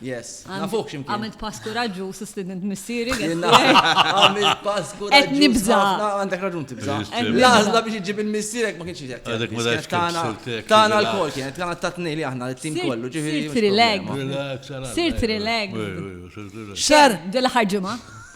Yes, nafuħ ximkien. Għamilt pass kuraġu u sustident missieri. Għamilt pass kuraġu. Et nibza. Għandek raġun tibza. Laħzla biex iġib il-missierek ma kienx jgħet. Għadek ma daċ tana. Tana l-kol kienet, tana t-tatni li aħna l-tim kollu. Sirt rileg. Sirt rileg. Xar. Dela ħarġuma.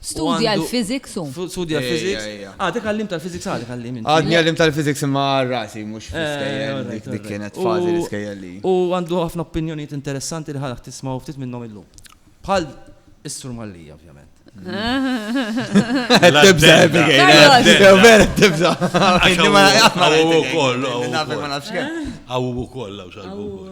Studja l-physics u. Studja l-physics. Ah, dik għallim tal-physics għadek għallim. Għadni għallim tal-physics imma rasi, mux eh, fl-iskejjel, dik kienet fazi l-iskejjel li. U għandu ħafna opinjoniet interessanti li ħalak tisma' ftit minnhom illum. Bħal is-sur Mallija, ovvjament. Tibza, vera tibza. Għawu koll, għawu koll. Għawu koll, għawu koll.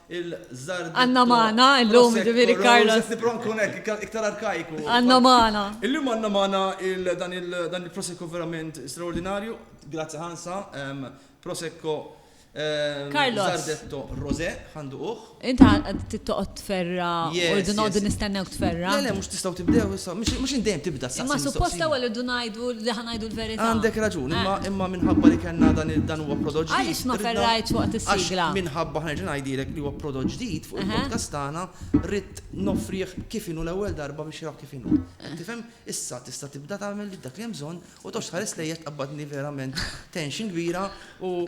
Għandna magħna illum, jiġifieri Carlos. Qed nipprova nkun hekk, iktar arkaiku. Għandna magħna. Illum għandna magħna dan il-Prosecco verament straordinarju. Grazzi ħansa, Prosecco Zardetto Rosé, ħanduquh. Inti qed tittoqgħod tferra u noqogħdu nistennew tferra. Le, le, mhux tistgħu tibdew issa. Mhux int dejjem tibda s-saqsija. Ma suppost l-ewwel irdu ngħidu li. ngħidu l-verità. Għandek raġun, imma imma minħabba li kellna dan il dan huwa prodott ġdid. Għaliex ma ferrajtx waqt is-sigla? Għax minħabba ħa nerġa' ngħidilek li huwa prodott ġdid fuq il-podcast tagħna ridt noffrih kif inhu l-ewwel darba biex jaraw kif inhu. Qed tifhem? Issa tista' tibda tagħmel dak li hemm bżonn u toqgħodx tħares lejja tqabbadni verament tension kbira u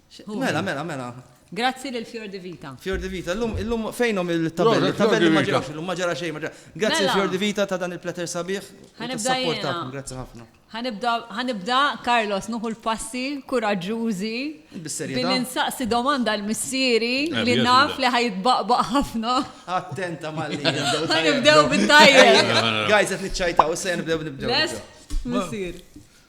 Mela, mela, mela. Grazzi lil Fjor di Vita. Fjor di Vita, illum, illum fejnhom il-tabelli? Tabelli ma ġewx, illum ma ġara xejn, ma ġara. Grazzi mela. Fjor di Vita ta' dan il-plater sabiħ. Ħanibda jiena. Grazzi ħafna. Ħanibda, ħanibda, Carlos, nuħu l-passi kuraġġużi. Billi nsaqsi domanda l-missieri eh, li naf li ħajtbaqbaq ħafna. Attenta malli. Ħanibdew bit-tajjeb. Guys, qed niċċajtaw, issa nibdew nibdew. Missier.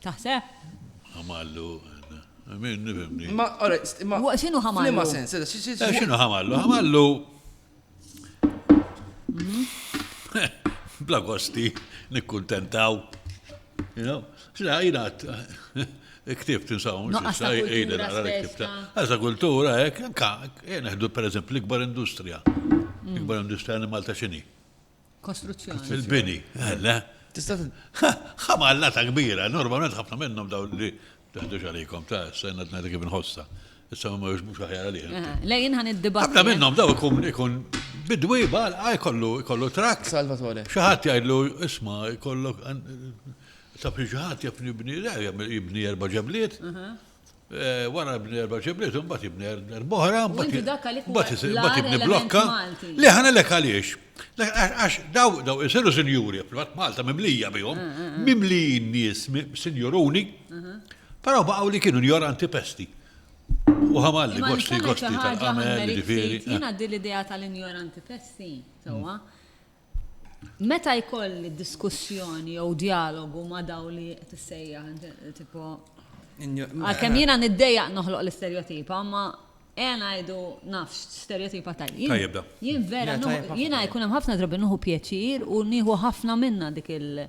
Taħseb? Ħamallu, min nifimni. Ma, alright, ma. Xinu ħamallu? Flima sens, eh, xinu ħamallu? Ħamallu. Mhm. Bla gosti, nikkuntentaw. You know? Xina, jina, ktibt insaw, jina, nara ktibt. Għazza kultura, ek, nka, jena ħdu per eżempju l-ikbar industrija. Mm. L-ikbar industrija li Malta xini. Kostruzzjoni. Fil-bini, eh, le. Tista' ħamalla ta' kbira, normalment ħafna minnhom daw li taħdux għalikom ta' s-senna t-najda kif nħossa. Issa ma mux mux ħajja għalih. Eh, lejn ħan id-dibat. Ħafna minnhom daw ikun ikun bidwi bal għaj kollu kollu trak. Salvatore. Xaħat jgħidlu isma' kollu ta' xaħat jafni bni jibni erba' ġebliet. wara ibni erba' ġibliet, imbagħad ibni erba' oħra, imbagħad ibni blokka. Le ħana lek għaliex. Għax daw daw isiru sinjuri, fil-fatt Malta mimlija bihom, mm, mm, mm. mimlijin nies sinjuruni, però baqgħu li kienu njoranti pesti. U ħamalli, gosti, gosti tal-għamel, ġifiri. Jina di l-idea tal-injoranti pesti, sewa. Meta jkolli diskussjoni jew djalogu ma' daw li qed issejjaħ tipo għalkemm jiena niddejjaq noħloq l-isterjotipa, ma ejja ngħidu nafx stereotipa tajjeb. Tajjeb da. Jien vera jiena jkun hemm ħafna drabi nieħu pjaċir u nieħu ħafna minnha dik il-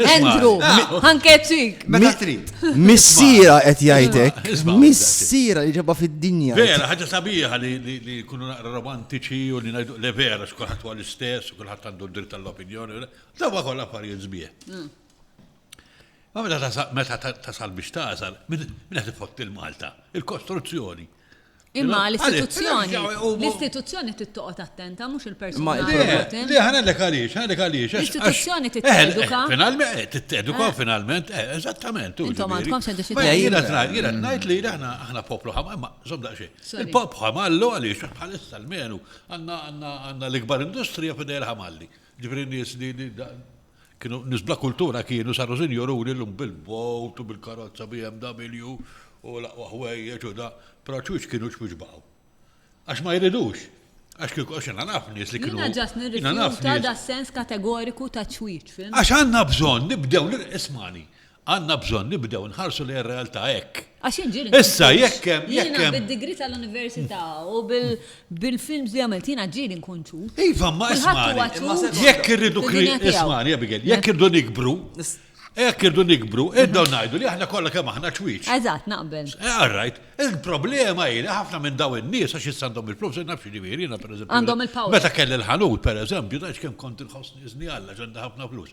Andrew, ħankeċik. Meta trid. Missira qed jgħidek. Missira li ġabha fid-dinja. Vera, ħaġa sabiħa li kunu naqra romantiċi u li ngħidu le vera x'kulħadd huwa l-istess u kulħadd għandu d-dritt tal-opinjoni. Dawa kollha affarijiet sbieħ. Mm. Ma meta tasal biex tasal, minn qed ifotti l-Malta, il-kostruzzjoni. Imma l-istituzzjoni, l-istituzzjoni trid toqgħod attenta mhux il-persuna. Li ħanellek għaliex, ħanellek għaliex. L-istituzzjoni trid teduka. Finalment, trid teduka eh. finalment, eh, eżattament. Intom għandkom se tixtieq. Jiena jiena ngħid li aħna aħna poplu ħamar, ma żomm daqsxejn. Il-pop ħamallu għaliex bħalissa l-menu għandna l-ikbar industrija fidejl ħamalli. Ġifieri nies li Kienu nies bla kultura kienu, saru sinjuruni llum bil-bowt u bil-karozza BMW u l-aqwa ħwejjeġ u da, però ċwieċ kienux mhux baqgħu. Għax ma jridux. Għax kieku għax jiena naf nies li kienu. Jiena ġast nirrifjuta das-sens kategoriku ta' ċwieċ, fhimt? Għax għandna bżonn nibdew, ismagħni, Għandna bżonn nibdew nħarsu lejn ir-realtà hekk. Għax jien ġieli. Issa jekk hemm. Jiena bid-degree tal-università u bil-films li għamilt jiena ġieli nkun ċut. Iva, ma ismani. Jekk irridu ismani, Abigail, jekk irridu nikbru, jekk irridu nikbru, irridu ngħidu li aħna kollha kemm aħna ċwieċ. Eżatt, naqbel. Għarrajt, eh, il-problema hi li ħafna minn daw in-nies għax issa għandhom il-flus, naf xi ġifieri, jiena pereżempju. Għandhom il-power. Meta kelli l-ħanut, pereżempju, ta' kemm kont inħossni żni Alla ġanda ħafna flus.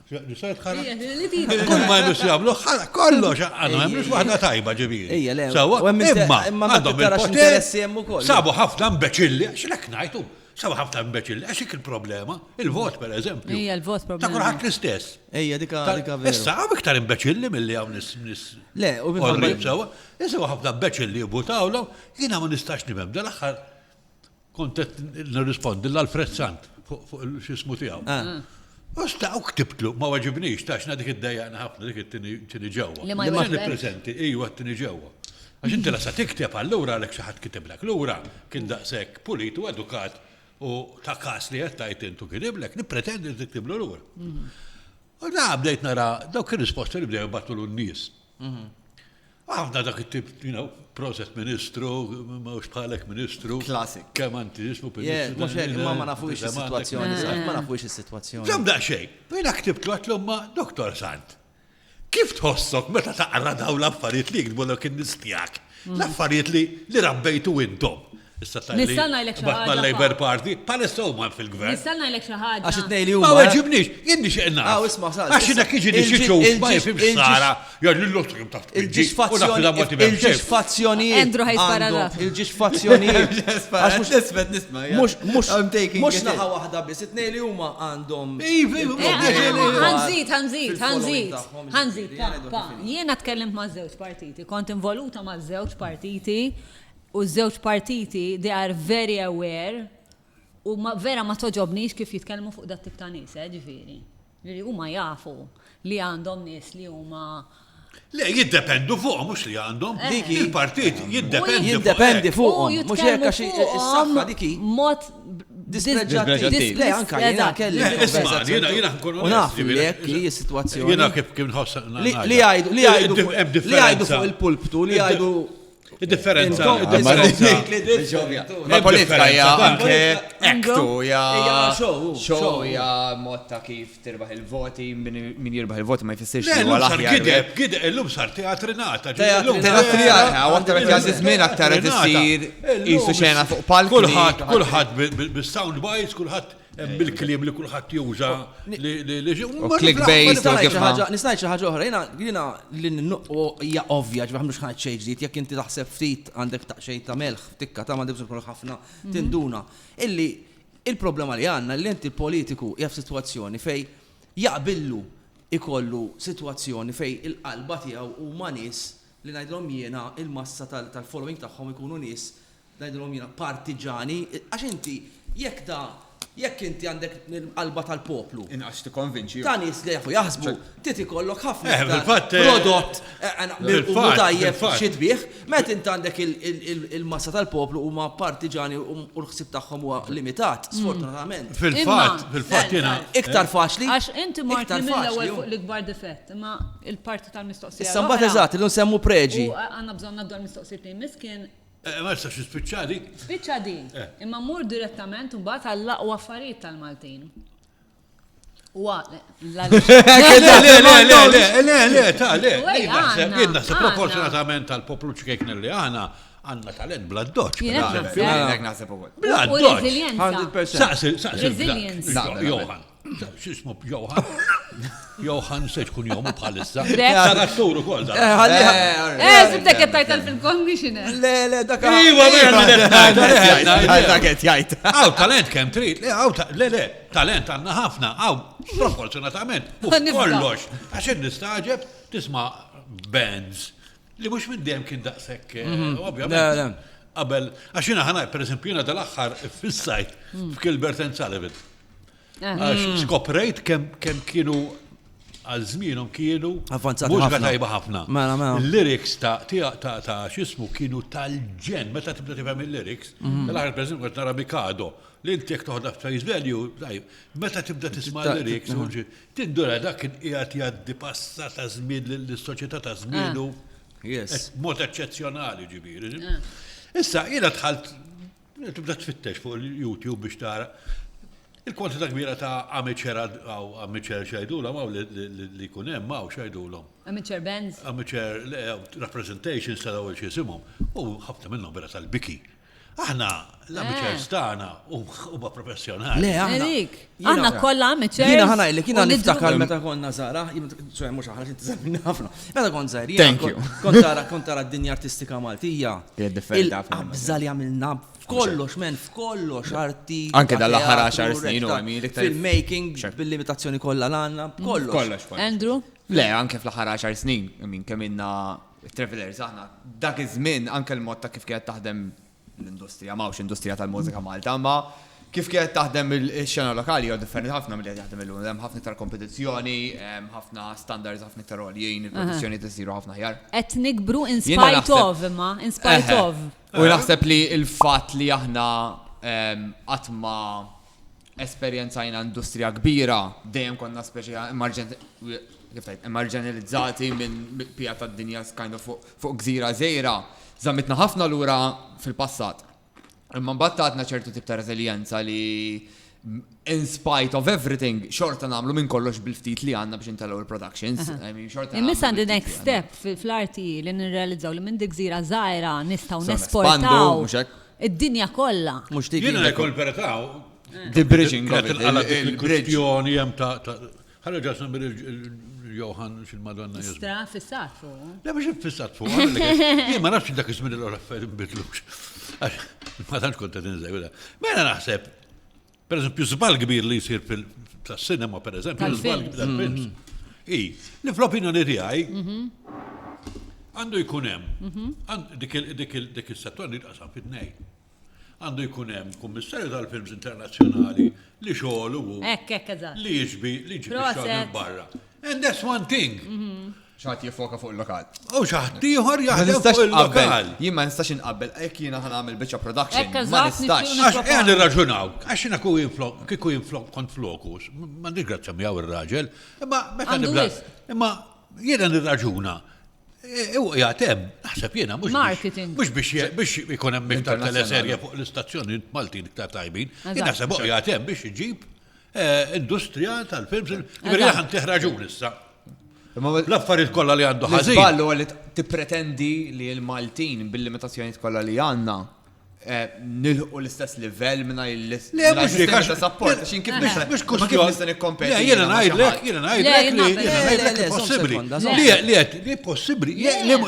Kull ma jmux jagħmlu ħala kollox għandu hemm mhux waħda tajba ġifieri. Ejja le. Sewwa imma għandhom il-poter. Sabu ħafna mbeċilli għax lek ngħidu. Sabu ħafna mbeċilli għax dik il-problema, il-vot pereżempju. Ejja l-vot problema. Ta' kulħadd l-istess. Ejja dika dika vera. Issa hawn iktar imbeċilli milli hawn nis. Le, u minn sewwa. Issa ħafna mbeċilli jibutawlhom, jiena ma nistax nifhem dal-aħħar Kont qed nirrispondi l Alfred Sant fuq x'ismu tiegħu. Ah. Osta u ktibtlu, ma waġibnix, taxna dik id-dajjaqna ħafna dik it-tini ġewwa. Li ma jwaslu. prezenti, iju għat-tini ġewwa. Għax inti lasa tikteb allura għalek xaħat kitiblek. Lura kien daqsek pulit u edukat u ta' kas li għattajt intu kitiblek, nipretendi li tiktiblu lura. Mhm. U da bdejt nara dawk il-risposta li bdew battulu n-nis. Mhm. Għafna dak it-tip, you know, proset ministru, ma ux bħalek ministru. Klasik. Kem antizismu per Yes, mux hekk, ma ma nafu ix situazzjoni, ma nafu ix situazzjoni. Zom da xej, bina ktibt għatlu ma doktor Sant. Kif tħossok meta taqra daw l-affarijiet li jikdbu l-ok nistijak? Mm. L-affarijiet li li rabbejtu intom. Issa tajli. Nista' ngħidlek xi ħaġa. Bad mal-Labour Party, palissa huma fil-gvern. Nista' ngħidlek xi ħaġa. Għax it-tnej li huma. Ma weġibniex, jien nixtieq nagħraf. Aw isma' sal. Għax inek jiġi li xi xogħol ma jifhimx sara, jgħid lil oħtu kemm taf. Il-ġisfazzjonijiet. Andrew ħajs paragraf. Il-ġisfazzjonijiet. Għax mhux isfet nisma'. Mhux mhux mhux naħa waħda biss, it-tnej li huma għandhom. Iv, iv, ħanżid, ħanżid, ħanżid. Ħanżid, pa, pa. Jiena tkellimt ma' żewġ partiti, kont involuta ma' żewġ partiti u ż-żewġ partiti they are very aware u vera ma togħġobnix kif jitkellmu fuq dat tip ta' nies eh ġifieri. Ġifieri huma jafu li għandhom nies li huma Le, jiddependu fuqhom mhux li għandhom. Eh. Dik il-partit jiddependi. Jiddependi fuqhom. Mhux hekk għax is-saħħa dik mod dispreġġattiv. Le, anke jiena kelli. Isma' jiena jiena nkun U naf li hekk hi s-sitwazzjoni. Jiena kif kien ħoss. Li jgħidu li jgħidu li jgħidu fuq il-pulptu li jgħidu Id-differenza. Ma politika hija anke ektu hija show hija mod ta' kif tirbaħ il-voti min jirbaħ il-voti ma jfissirx li huwa l-aħjar. Gideb, gideb illum sar teatri nata. Teatri nata, aktar qed jgħaddi żmien aktar qed isir qisu xena fuq palk. Kulħadd, kulħadd bis-sound bites, kulħadd Hemm il-kliem li kulħadd juża li clickbait u kif ħaġa. Nisnajt xi ħaġa oħra, jiena jiena li nnuqqu hija ovvja ġbah mhux ħadd xejn ġdid, jekk inti taħseb ftit għandek taqxej ta' melħ, tikka ta' m'għandek bżonn ħafna tinduna. Illi il-problema li għandna li inti politiku hija f'sitwazzjoni fej jaqbillu ikollu sitwazzjoni fej il-qalba tiegħu huma nies li ngħidlhom jiena il-massa tal-following tagħhom ikunu nies Ngħidilhom jiena partiġani, għax inti jekk da, jekk inti għandek l-qalba tal-poplu. Inqas tikkonvinċi. Ta' nies li jafu jaħsbu, trid ikollok ħafna iktar prodott mirqum u tajjeb xi tbigħ. Meta inti għandek il-massa tal-poplu huma partiġani u l-ħsieb tagħhom huwa limitat, sfortunatament. Fil-fatt, fil-fatt jiena. Iktar faċli. Għax inti mort mill-ewwel fuq l-ikbar difett, imma l-parti tal-mistoqsija. Issa mbagħad eżatt, illum semmu preġi. Għandna bżonn ngħaddu għall-mistoqsijiet li jmiss kien Eh, ma jistax jispiċċa dik. Spiċċa din. Eh. Imma mmur direttament mbagħad għall-aqwa affarijiet tal-Maltin. Wa, le, le, le, le, ta' le, jien naħseb proporzjonatament tal-poplu ċkejkna li għana għanna talent bla doċ. Bla doċ. Bla doċ. Resilienza. Resilienza. Xismu Johan. Johan se tkun jomu bħalissa. Tara s-suru kol da. Eh, sibtek qed tajt fil-commissioner. Le, le, dak. Iwa, dak qed jgħid. Aw talent kemm trid, le aw le le, talent għandna ħafna, aw proporzjonatament. U kollox, għax nistaġeb tisma' bands li mhux minn dejjem kien daqshekk, eh, mhm. ovvjament. Qabel, għax jiena ħana, per eżempju, jiena dal-aħħar fis-sajt f'Kilbert and Sullivan. Għax skoprejt kem kienu għal żmienhom kienu Avvanzati mhux ħafna. tajba ħafna. Mela, mela. Il-lyrics ta' ta' ta' ta' xismu kienu tal-ġen, meta tibda tifhem il-lyrics, tal-aħħar pereżempju qed nara Mikado, li inti jekk toħodha face value, tajb, meta tibda tisma' Ta- l-lyrics, u ġi- tindura dak kien qiegħed jgħaddi passa ta' żmien lis-soċjetà ta' żmienu, Yes. mod eċċezzjonali ġifieri. Issa jiena dħalt Tibda tfittex fuq il-YouTube biex tara il-kwantità kbira ta' amateur għaw amateur xajdulhom għaw li jkun hemm għaw xajdulhom. Amateur bands? Amateur representations ta' dawl xiesimhom. U ħafna minnhom vera tal-biki. Aħna l-amateurs eh. tagħna huma professjonali. Le aħna. Aħna kollha amateurs. Jiena ħana illi kiena niftakar meta konna żara, ċoħe mhux aħna xi żammin ħafna. Meta kont żgħir, jiena kont tara kont tara d-dinja artistika Maltija. Qabża li għamilna f'kollox, men, f'kollox arti. Anke dal-aħħar 10 snin u għamil iktar. Filmmaking, bil-limitazzjoni kollha l-għandna, kollox. Kollox. Andrew? Le, anke fl-aħħar 10 snin, minn kemm inna travelers aħna, dak iż-żmien anke l-mod ta' kif kienet taħdem l-industrija, m'hawnx industrija tal-mużika Malta, imma kif kienet taħdem ix-xena lokali jew differenti ħafna milli qed jaħdem illum. Hemm ħafna iktar kompetizzjoni, hemm ħafna standards ħafna iktar għoljin, il-produzzjoni tisiru ħafna ħjar. Qed nikbru in spite of imma, in spite of. U naħseb li l-fatt li aħna qatt ma esperjenzajna industrija kbira dejjem konna speċi emarġenilizzati minn pija tad-dinja kind of fuq Fuq gżira żgħira żammitna ħafna lura fil-passat. Imma mbagħad tatna ċertu tip ta' reżiljenza li in spite of everything, xorta namlu minn kollox bil-ftit li għanna biex intellu il-productions. Imissa għandi next step fil-arti li nirrealizzaw li minn dik zira zaħira nistaw nesportaw id-dinja kolla. Mux dik. Jena jkun peretaw. The bridging. Il-kwestjoni jem ta' Ħalli ġas nagħmel il-Johan xil-Madonna Jesu. Stra fissat fuq. Le biex fissat fuq. Jien ma nafx dak iż-żmien l-affarijiet nbidlux. Ma tantx kont qed inżewla. Mela naħseb, per eżempju, żball kbir li jsir fil-sinema, per eżempju, żball tal-films. Mm-hmm. I, li fl-opinjoni tiegħi mm-hmm. għandu jkun hemm mm-hmm. dik il-settor li tqasam fit-nej. Għandu jkun hemm kummissarju tal-films internazzjonali li xogħol u li jiġbi li jiġbi xogħol barra. And that's one thing. Mhm. ċaħt jifoka fuq il-lokal. U ċaħt ieħor jaħdem fuq il-lokal. Jien ma nistax inqabbel, hekk jiena ħan għamil biċċa production. Ma nistax. Għax qegħed irraġunaw, għax jiena ku jinflok, kieku jinflok kont flokus, m'għandix grazzja miegħu ir-raġel, imma meta nibda. Imma jiena nirraġuna U jgħatem, naħseb jena, mux marketing. Mux biex biex ikun hemm iktar teleserja fuq l-istazzjoni Maltin iktar tajbin. Naħseb u jgħatem biex iġib eh, industrija tal-films. Veri għan teħraġu issa. L-affarijiet kollha li għandu ħażin. Ballu għalli tippretendi li l-Maltin bil-limitazzjonijiet kollha li għandna nilħu l-istess livell mingħajr l-sistema ta' sapport. Xin kif biex biex kux kif nista' nikkompeti. Le, jiena ngħidlek, jiena ngħidlek li jiena ngħidlek li possibbli. Li qed li possibbli,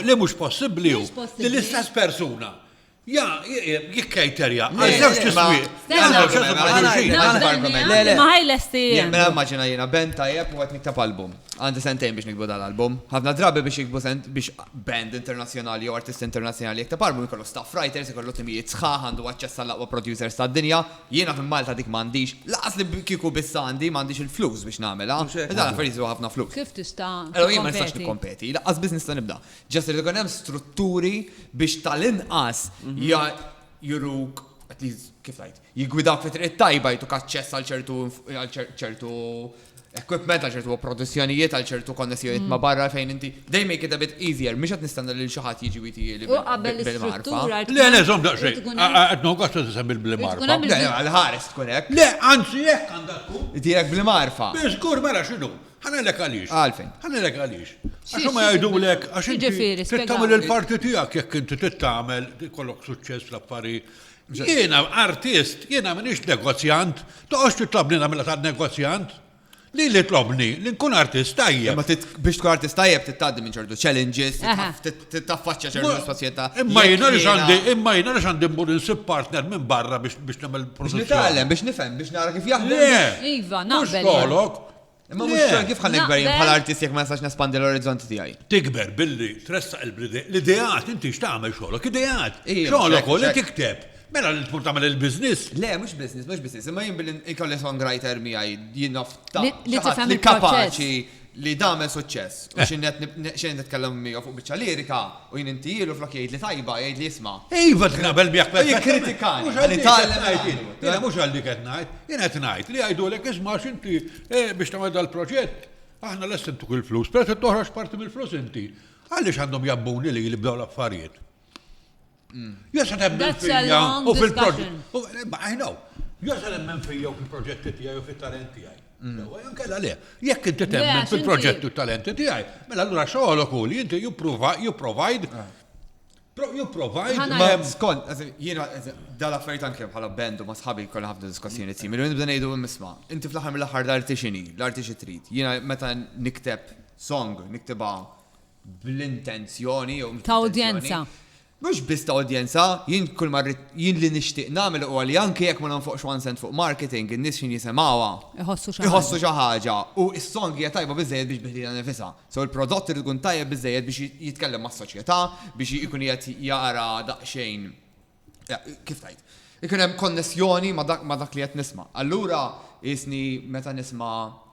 li mhux possibbli hu li l-istess persuna. Ja, jikkajterja, għal-żewġ tismiq. Ma ħajlesti. Jemmen għammaġina jena, ben tajab u għet nittab album. Għandi sentejn biex niktbu dal-album. Ħafna drabi biex jiktbu biex band internazzjonali jew artist internazzjonali jikteb album ikollu staff writers, ikollu timijiet sħaħ, għandu aċċess għall-aqwa producers tad-dinja. Jiena fi Malta dik m'għandix. Lanqas li kieku biss għandi, m'għandix il-flus biex nagħmilha. Mhux hekk? Dawn l-affarijiet jistwa ħafna flus. Kif tista' tikkompeti? Allura jien ma nistax nikkompeti. Lanqas biss nista' nibda. Just irid ikun hemm strutturi biex tal-inqas juruk, at least, kif ngħid, jiggwidak fi triq it-tajba, jtuk aċċess għal ċertu għal ċertu equipment, għal ċertu produzzjonijiet, għal ċertu konnessjonijiet mm. ma' barra fejn inti. They make it a bit easier, mhux qed nistenna lil xi ħadd jiġi witi li. U qabel l-istruttura. Le, le, żomm daqsxejn. Qed noqgħod se tisem il-blimarfa. Le, għal-ħares tkun hekk. Le, anzi hekk għandha tkun. Direk blimarfa. Biżgur mela x'inhu. Ħanelek għaliex. Għalfejn. Ħanelek għaliex. Għax ma jgħidulek għax inti tagħmel il-parti tiegħek jekk inti tittamel kollok suċċess l-affari Jiena artist, jiena minix negozjant, toqgħodx titlobni nagħmilha tan-negozjant. Li li tlobni, li nkun artist tajjeb. Ma biex tkun artist tajjeb tittaddi minn ċertu challenges, taffaċċja ċertu soċjetà. Imma jiena li xandi, imma jiena li xandi mmur insib partner minn barra biex nagħmel produzzjoni. Biex nifhem, biex nara kif jaħdem. Iva, naqbel. Tolok, Imma mhux xogħol kif ħalli gber jien bħala artist jekk ma nistax nespandi l-orizzonti tiegħi. Tikber billi tressaq l-ideat, inti x'tagħmel xogħolok, ideat. Xogħolok u li tikteb. Mela li tmur tagħmel il-business. Le, mhux business, mhux business, imma jien billi ikolli songwriter miegħi jien nafta li kapaċi li dagħmel suċċess. U x'innet nitkellem miegħu fuq biċċa lirika. U jien intihielu flok jgħidli tajba, jgħidli isma'. Iva qed naqbel miegħek perfettament. Mhux għal dik qed ngħid jien. Le mhux għal dik qed ngħid. Jien qed ngħid li jgħidulek isma' għax inti biex tagħmel dal-proġett aħna lesti ntuk il-flus, peress li toħroġ parti mill-flus inti, għaliex għandhom jgħabbuni lili b'dawn l-affarijiet? Jew se temmen fija u fil-proġett. I know. Jew se temmen fija u fil-proġetti tiegħi u fit-talent tiegħi. Sewwa jew kella le. Jekk inti temmen fil-proġett u talenti tiegħi, mela allura xogħolok hu li inti jipprovide You provide ma skont, jiena dal affarijiet anke bħala bendu ma sħabi kollha ħafna diskussjoni simili, nibda ngħidu imma inti fl-aħħar mill-aħħar l-arti x'inhi, l-arti xi trid. Jiena meta nikteb song, niktibha bl-intenzjoni jew ta' udjenza. Mhux biss ta' udjenza, jien kull ma rrid, jien li nixtieq nagħmel huwa li anke jekk ma nonfoqx one cent fuq marketing, in-nies x'ħin jisimgħuha. Iħossu xi ħaġa. Iħossu xi ħaġa. U s-song hija tajba biżżejjed biex bi ħdidha nifisha. So l-prodott irid ikun tajjeb biżżejjed biex jitkellem mas-soċjetà, biex ikun qiegħed jara daqsxejn, kif ngħid, ikun hemm konnessjoni ma' dak li qed nisma'. Allura qisni meta nisma'.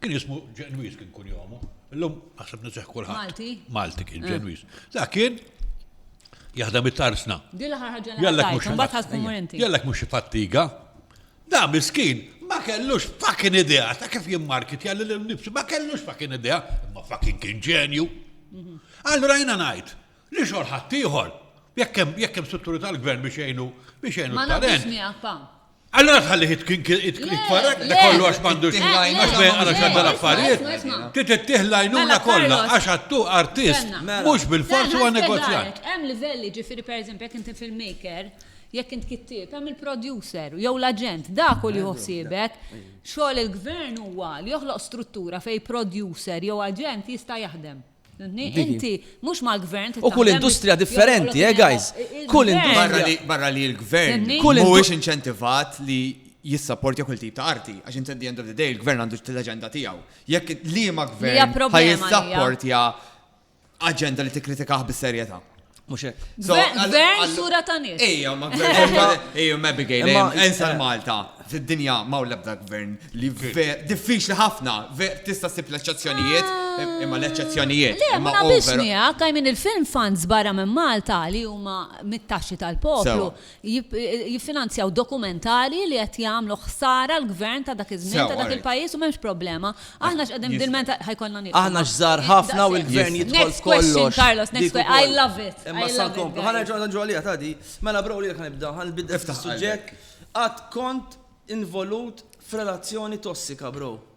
Kien jismu Ġenwiż kien kun jomu. Illum naħseb niseħ kulħadd. Malti? Malti kien eh. Ġenwiż. Da kien jaħdem it-tarsna. Dilla ħarħaġa l-għajt, Jallek mux fattiga. Da miskin, ma kellux fucking idea, ta' kif jimmarkit jalli l-nifsi, ma kellux fucking idea, ma fucking kien ġenju. Mhm. Allura jina najt, Li xogħol ħaddieħor? Jekk hemm jekk hemm strutturi tal-gvern biex jgħinu biex jgħinu Ma naqbilx talent. miegħek pa. Allora tħalli hit kien kien it- Le, itfarrak le, da kollu għax m'għandux Tittih lajnuna għax bejn għal xadda kollha. l-affarijiet. Isma', isma', isma'. Ti tittih lajnuna Mela, kollha Carlos. għax għattu artist Kellna. Mela. mhux bil-forsi Kellna huwa negozjant. nspjegalek, Hemm livelli ġifieri pereżempju jekk inti filmmaker, jekk int kittieb, hemm il-producer jew l-aġent, dak hu li joħsibek. Xogħol il-gvern huwa li joħloq struttura fejn producer jew aġent jista' jaħdem. Inti mhux mal-gvern trid taħdem. U kull industrija differenti, eh guys. Kull industrija. Barra li l-gvern mhuwiex inċentivat li jissapportja kull tip ta' arti, għax inti at the end of the day il-gvern għandu l-aġenda tiegħu. Jekk liema gvern ħajissapportja aġenda li tikkritikah bis-serjetà. Mux hekk. Gvern sura ta' nies. Ejja, ma gvern. Ejja, ma Abigail, ensa l-Malta. Fid-dinja ma' l-ebda gvern li diffiċli ħafna, tista' sib l-eċċezzjonijiet, ah. imma l-eċċezzjonijiet. Le, ma nabiex miegħek, għajmin il-film fans barra minn Malta li huma mit-taxxi tal-poplu. jiffinanzjaw dokumentari li qed jagħmlu ħsara l-gvern ta' dak iż-żmien ta' dak il-pajjiż u m'hemmx problema. Aħna x'qegħdin f'dilmenta ħajkollna nieqfu. Aħna x'żgħar ħafna u l-gvern jidħol f'kollox. Carlos, next question. I love it. Imma sa nkomplu. Ħa nerġa' nerġgħu għaliha ta' di. Mela bro lilek ħanibda, ħanbidel ftit is-suġġett. Qatt kont involut f'relazzjoni tossika bro?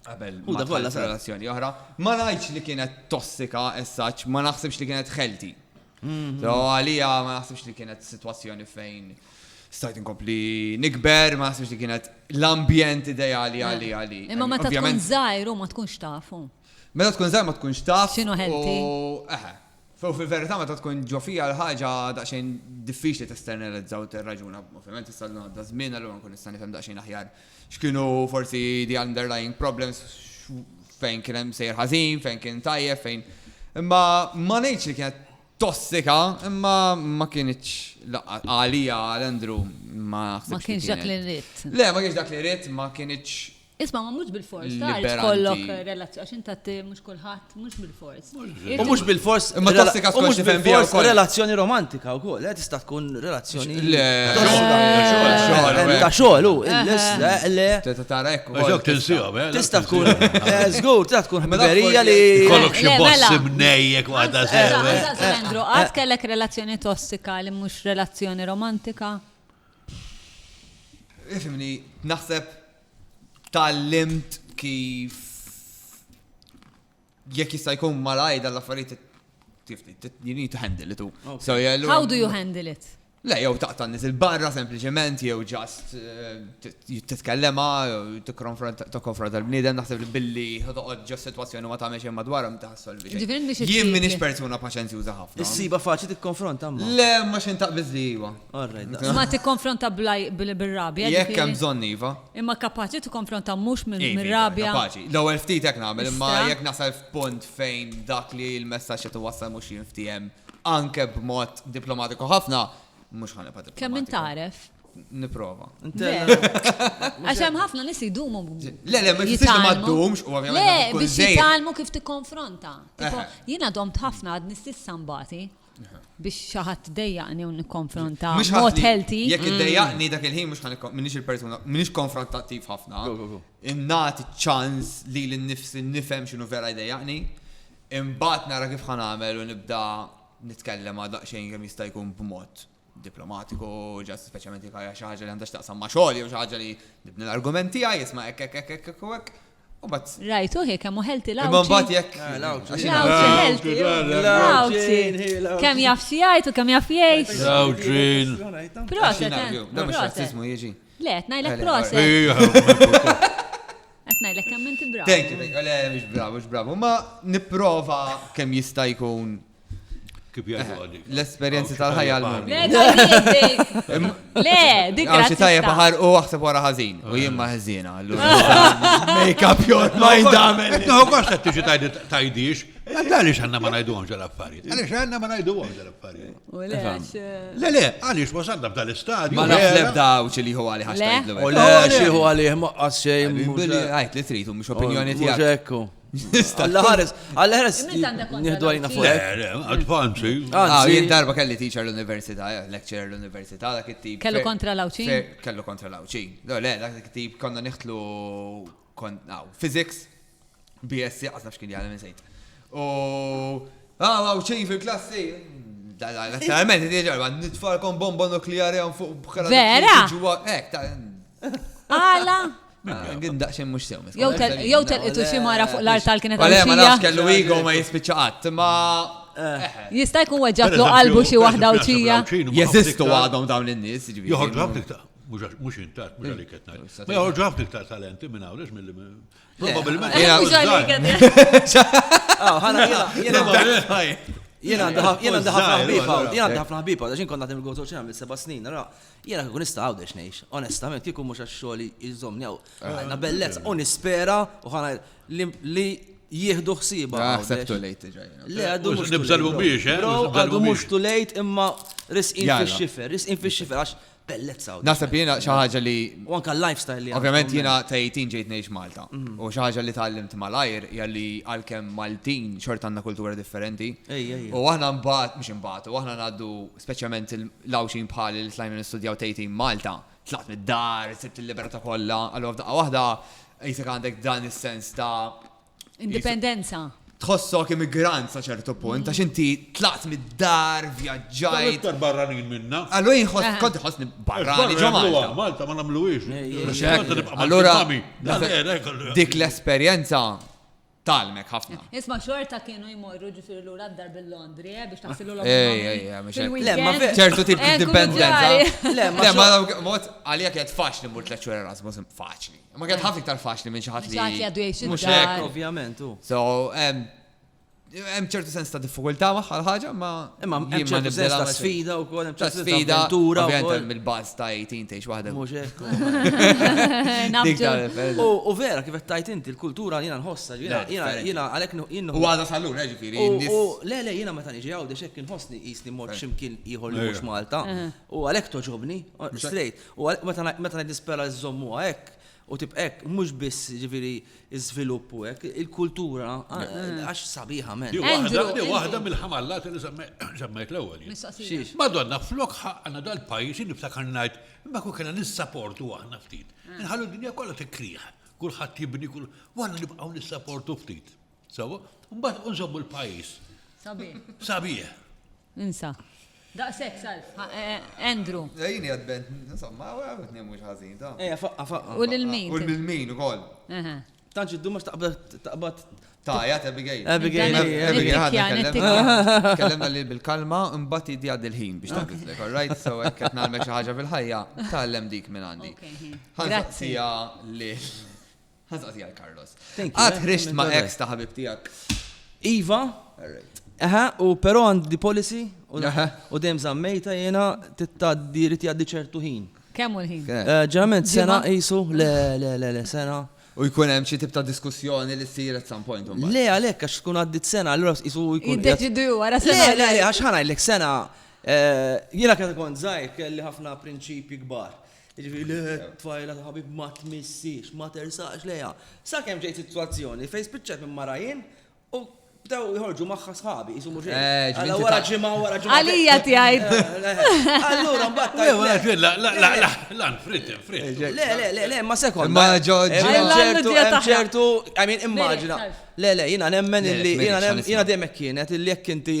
Qabel ma tħalli relazzjoni oħra, ma ngħidx li kienet tossika essaċ, ma naħsibx li kienet healthy. Mhm. So għalija ma naħsibx li kienet sitwazzjoni fejn stajt inkompli nikber, ma naħsibx li kienet l-ambjent ideali eh. għali għali. Imma meta tkun żgħir u ma tkunx tafu. Meta tkun żgħir ma tkunx taf. X'inhu healthy? Eh, Fu fil-verità meta tkun ġofija l-ħaġa daqsxejn diffiċli testernalizzaw tirraġuna, ovvjament issa l-għadda żmien allura nkun nista' nifhem daqsxejn aħjar X'kienu forsi the underlying problems, fejn kien hemm sejjer ħażin, fejn kien tajjeb, fejn. Imma ma ngħidx li kienet tossika, imma ma kienx għalija għal Andrew ma ħsibx. Ma kienx dak li rrid. Le, ma kienx dak li rrid, ma kienx. Isma' ma mhux bil-fors, tagħrif kollok relazzjoni għax inta mhux kulħadd mhux bil-fors. U mhux bil-fors. Imma tossika skont xi fem bija wkoll. Relazzjoni romantika wkoll, eh, tista' tkun relazzjoni. Le, ta' xogħol, u le, le. Tara hekk. Ġok tinsihom, eh. Tista' tkun. Eh, żgur, tista' tkun ħbiberija li. Kollok xi mela. boss ibnejjek waħda eh, sewe. Andrew, għad kellek relazzjoni tossika li mhux relazzjoni romantika? Ifimni, naħseb tal-limt kif Jekk jista' jkun malajr dan l-affarijiet you need to handle it. How do you handle it? Le, jew taqta' nies il-barra sempliċement jew ġast eh, titkellema jew tikkonfronta l-bniedem naħseb li billi toqgħod ġo sitwazzjoni ma tagħmel xejn madwar ma taħsolvi xejn. Jien m'iniex persuna paċenzjuża ħafna. Issiba faċli tikkonfronta ma. Le, ma xejn taqbiż li iva. Ma tikkonfronta bil-rabja. Jekk hemm bżonn iva. Imma kapaċi tikkonfronta mhux mir-rabja. Kapaċi. L-ewwel ftit hekk nagħmel, imma jekk nasal f'punt fejn dak li l-messaġġ qed iwassal mhux jinftiehem anke b'mod diplomatiku ħafna, mhux ħa nibqa' diplomatiku. Kemm int tagħref? Nipprova. Għax hemm ħafna nies idumu. Le, le, ma jfissirx li ma ddumx, u ovvjament. Le, biex jitgħallmu kif tikkonfronta. Jiena domt ħafna għad nistissa mbati. biex xi ħadd dejjaqni u nikkonfronta mod healthy. Jekk mm. iddejjaqni dak il-ħin mhux ħanikkom minix il-persuna minix konfrontattiv ħafna. Innati ċans li l-nifsi nifhem x'inhu vera jdejjaqni. Imbagħad nara kif ħanamel u nibda nitkellem għal daqsxejn kemm jista' jkun b'mod diplomatiku, ġast speċjalment jekk hija xi ħaġa li għandha x'taqsam ma' xogħol jew xi ħaġa li nibni l-argument tiegħi, isma' hekk hekk hekk hekk u hekk. U mbagħad. Rajtu hi kemm hu ħelti l-għawġi. Imma mbagħad jekk. L-għawġi ħelti. L-għawġi. Kemm jaf xi jgħid u kemm jaf jgħid. L-għawġi. Proset. Da mhux razzismu jiġi. Le, qed ngħidlek proset. Qed ngħidlek kemm inti bravo. Thank you, thank you. Le, mhux bravo, mhux bravo. Ma nipprova kemm jista' jkun Kif jgħidu għaddi? L-esperjenzi tal-ħajja l-mum. Le, dik Għaw xi tajja baħar u għaxseb wara ħażin. U jien ma ħażina. Make up your mind għamel. No, għax qed tiġi tajdix. Għaliex għanna ma najdu għomġa l-affarijiet. Għaliex għanna ma najdu għomġa l-affarijiet. Le, le, għaliex wasanna b'dal istadju. Ma nafx lebda u ċili hu għalih għax. U le, xieħu għalih maqqas xejn. Għajt li tritu, mux opinjoni tijak. Alla ħares, alla ħares. Nihdu għajna fuq. Advanzi. Ah, jien darba kelli teacher l-università, eh, lecturer l-università, dak it-tip. Kellu kontra lawċin? Kellu kontra lawċin. No, le, dak it-tip konna niħtlu physics, BSC, għazna xkien jgħalem insejt. U, ah, lawċin fil-klassi. Naturalment, ġarba, nitfarkom bomba nukleari għan fuq bħala. Vera? Ek, ta' Għala? Għin daqxin mux sew. Jow telqitu xi mara fuq l-art tal-kienet għal. Ma nafx kellu igo ma jispiċaqat, ma. Jista' jkun weġġat lu qalbu xi waħda u ċija. Jeżistu għadhom dawn in-nies. Joħorġu ħafna iktar. Mux intat, mux għalik etnaj. Ma joħorġu ħafna iktar talenti minn għawlex mill Probabilment. Mux għalik etnaj. Jena għandi ħafna ħbiba, jena għandi ħafna ħbiba, għaxin konna tim il-għotu ċena mill-seba snin, ra. Jiena kieku nista' Għawdex ngħix, onestament, kieku mhux għax xogħli jżommni hawn. Għandna bellezza u nispera u ħana li jieħdu ħsieba. Naħseb too late ġaj. Le għadu mhux. Nibżalbu biex, eh? Għadu mhux too late imma risqin fix-xifer, risqin fix-xifer għax bellezza. Naħseb jiena xi ħaġa li. U anke l-lifestyle li. Ovvjament jiena ta' 18 ġejt ngħix Malta. Mhm. U xi ħaġa li tgħallimt malajr hija li għalkemm Maltin xort għandna kultura differenti. U aħna mbagħad mhux imbagħad, u aħna ngħaddu speċjalment l-Għawdxin bħali li tlajna nistudjaw tgħid Malta, tlaqt mid-dar, sibt il-libertà kollha, allura f'daqqa waħda qisek għandek dan is-sens ta' indipendenza. Tħossok immigrant sa ċertu punt, għax inti tlaqt mid-dar, vjaġġajt. Iktar barranin minna. Allura jinħoss, kont iħossni barrani ġo Malta. Malta ma nagħmluhiex. Allura dik l-esperjenza tgħallmek ħafna. Isma' xorta kienu jmorru ġifieri lura d-dar bil-Londri eh, biex taħsilu l Ej, ċertu tip ta' dipendenza. Le, ma mod għalija kienet faċli mur tliet xhur Erasmus faċli. Ma kienet ħafna iktar faċli minn xi ħadd li. Xi għadu jgħix mhux hekk, ovvjament. So, hemm ċertu sens ta' diffikultà magħha l-ħaġa, ma Imma hemm ċertu sens ta' sfida wkoll, hemm ċertu sfida ta' avventura wkoll. Mill-baż ta' 18 tgħix waħda. Mhux hekk. U vera kif qed tgħid inti l-kultura jiena nħossha, jiena għalhekk jien. U għadha sal-lum, ġifieri. Le, le, jiena meta niġi Għawdex hekk inħossni qisni mmort x'imkien ieħor li mhux Malta. U għalhekk togħġobni, straight. U meta ngħid nispera żżommuha hekk, U tibqa' hekk, mhux biss jiġifieri ż-żvilupp u hekk, il-kultura għax sabiħa men. Hi waħda mill-ħamallati li semmejt l-ewwel jien. Mistoqsija. Madonna, flok ħaqqna dal-pajjiż jien niftakar ngħid, imma kieku kellna nissaportu aħna ftit. Inħallu d-dinja kollha tikkrieħ, kulħadd jibni, u aħna nibqgħu nissaportu ftit. Sewa, mbagħad unżommu l-pajjiż. Sabiħ. Sabiħ. Insa. Daqshekk sal. Andrew. Jini għad bent, insomma, għed nemmu ħażin ta'. Ejja, faqqa, faqqa. U l-min. U l-min ukoll. Tanċi d-duma x'taqbad Taja, Abigail. Abigail, Abigail, ħadna kellemna li bil-kalma, imbat jiddi għad il-ħin biex tabitlek, all right? So, għekket nalme ħaġa fil-ħajja, tal-lem dik minn għandi. Grazzi. Lil. Ħazqa tijaj, Carlos. Għad ħrixt ma' ex ta' ħabib tijak. Iva. Aha, u pero għand di policy u dem zammejta jena tittaddi rrit jaddi ċertu ħin. Kemmu l-ħin? Eh, ġerament, sena jisu, le, le, le, le, sena. U jkun hemm xi tip ta' diskussjoni li ssir at some point. Le għalhekk għax tkun għaddit sena allura jisu jkun. Jiddeċidu wara sena. Le, le, għax ħanajlek sena. Eh, jiena kien kont żgħir kelli ħafna prinċipji kbar. Jiġifieri le, tfajla ta' ħabib ma tmissiex, ma tersaqx lejha. Sakemm ġejt sitwazzjoni fejn spiċċajt minn mara jien u bdew jħorġu magħha sħabi, jisu mhux eh, Alla wara ġimgħa wara ġimgħa. Għalija tgħid. Eh, eh, allura mbagħad. Le, wara ġimgħa, la, la, la, la, la, frit, frit. Le, le, le, le, ma sekond. Ma ġoġi. Ċertu, ċertu, I mean, immaġina. Le, le, jiena nemmen illi, jiena dejjem kienet illi jekk inti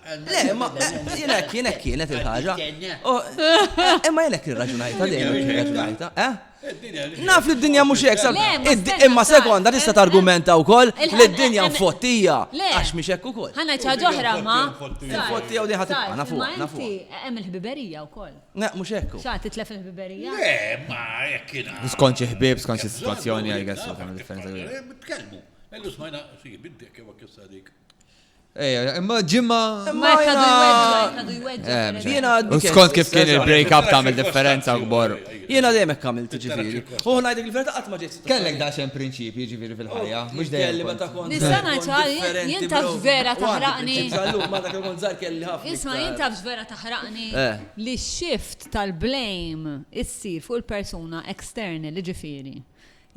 Le, ma jien hekk jien hekk kienet il-ħaġa. Imma jien hekk irraġunajta dejjem irraġunajta, eh? Naf li d-dinja mhux hekk sab. Imma sekonda tista' targumenta wkoll li d-dinja mfottija għax mhix hekk ukoll. Ħa ngħid ħaġa oħra ma. Mfottija u diħa tibqa' nafu. Nafu. Hemm il-ħbiberija wkoll. Ne, mhux hekk. Xa titlef il-ħbiberija? Le, ma hekk kien. Skont xi ħbieb, skont xi sitwazzjoni għal għessu ta' differenza. Tkellmu. Ellu smajna, si, biddek jew kif sadik. Ejja, imma ġimma. Imma jkadu jweddu, jweddu. Jena għaddu. Skont kif kien il-break up ta' differenza gbar. Jena dejjem hekk għamilt ġifieri. U ngħidlek il-verità qatt ma ġejt. Kellek da xem prinċipji ġifieri fil-ħajja, mhux dejjem. Nista' ngħid jien taf vera taħraqni. Ma dak il-kont żgħar kelli ħafna. Isma' jien taf vera taħraqni li shift tal-blame issir fuq il-persuna external ġifieri.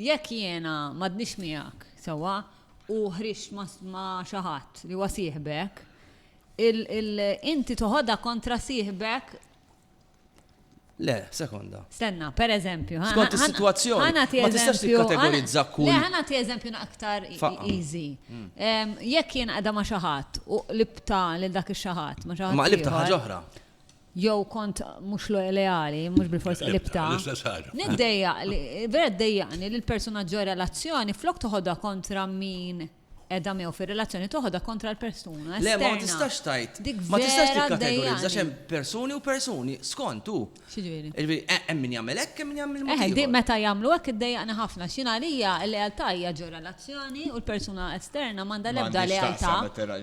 Jekk jiena m'għadniex miegħek, sewwa, u ħriġt ma' xi ħadd li huwa sieħbek, inti toħodha kontra sieħbek? Le, sekonda. Stenna, per eżempju. Skont is-sitwazzjoni. Ħana ti eżempju. Kategorizza kull. Le, ħana ti eżempju aktar easy. Mm. Jekk jien qada ma' xi ħadd u libta lil dak ix-xi ħadd ma' xi ħadd. Ma' libta ħaġa oħra. jew kont mhux leali, mhux bilfors qlibtha. L-istess ħaġa. Niddejjaq li, vera ddejjaqni li l-persuna ġo relazzjoni flok toħodha kontra min qiegħda miegħu fir-relazzjoni toħodha kontra l-persuna. Le, ma tistax tgħid. Ma tistax tikkategorizza xem persuni u persuni, skont hu. X'ġifieri? Jiġifieri, eh, hemm min jagħmel hekk, hemm min jagħmel mod. Eh, eh meta jagħmlu hekk iddejjaqni ħafna. X'jien għalija l-lealtà hija ġo relazzjoni u l-persuna esterna m'għandha l-ebda lealtà. Ma tistax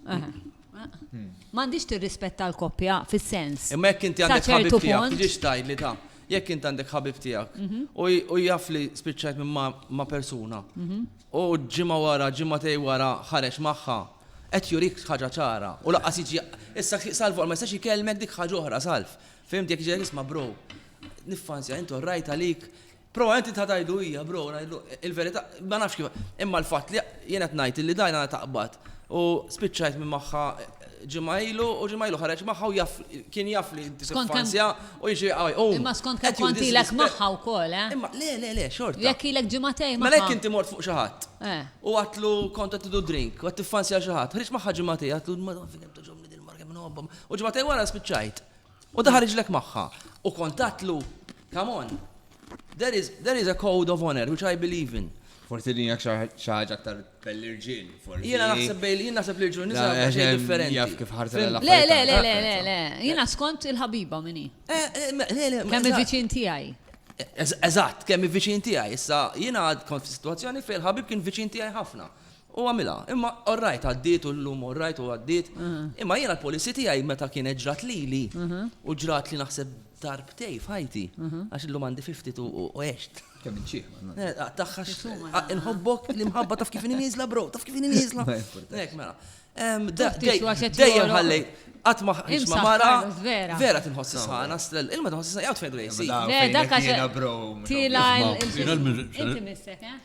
tagħmel M'għandix tirrispetta l-koppja fis-sens. Imma jekk inti għandek ħabib tiegħek, tiġix tgħidli ta' jekk inti għandek ħabib tiegħek mhm. u jaf li spiċċajt minn ma' persuna mhm. u ġimgħa wara, ġimgħa tej wara ħareġ magħha, qed jurik ħaġa ċara u laqqas jiġi issa salvu ma jistax ikellmek dik ħaġa oħra salv. Fimti jekk ġejk isma' bro, niffansja intu rajt għalik Però int trid tgħidlu hija, bro, ngħidlu il-verità, ma nafx kif. Imma l-fatt li jien qed ngħid illi dajn għandha taqbad u spiċċajt minn magħha ġimgħa ilu u ġimgħa ilu ħareġ magħha u jaf kien jaf li inti se tfanzja u jiġri qawwi. Imma skont kemm kont ilek magħha wkoll, eh? Imma le, le, le, xorta. Jekk ilek ġimgħatejn magħha. Mela jekk inti mort fuq xi ħadd u għedtlu kont qed tidu drink u qed tiffanzja xi ħadd, ħriġt magħha ġimgħatejn għedtlu Madonna fejn kemm togħġobni din il-mara kemm inħobbha u ġimgħatejn wara spiċċajt. U daħal riġlek magħha. U kont għadtlu, come on, there is, there is a code of honor which I believe in. Forsi din hija xi ħaġa aktar bell-irġiel, forsi. Jiena naħseb bejl, jien naħseb li rġiel nisa eh, xejn eh, differenti. Jaf kif ħarsa l Le, le, le, le, le, le. Jiena skont il-ħabiba minni. Eh, kemm il-viċin tiegħi. Eżatt, kemm il-viċin tiegħi. Issa jiena kont f'sitwazzjoni fejn il-ħabib kien viċin tiegħi ħafna. U għamilha. Imma all right għaddiet u llum all right u għaddiet. Imma jiena l-policy tiegħi meta kienet ġrat lili, u ġratli naħseb darbtejn f'ħajti, għax illum għandi 52 u għext. Kemm int ċieħ ma nagħlaq. Eh, tah għax inħobbok, l-imħabba taf kif inhi nieżla bro, taf kif inhi nieżla. Hekk mela. Ehm, dejjem ħallejt qatt ma ħħiex ma mara. Vera tinħoss sħana, strell, ilma tinħoss sħana, jgħid fejn dwejsi. Le, dak għax. Tila il-missek, eh?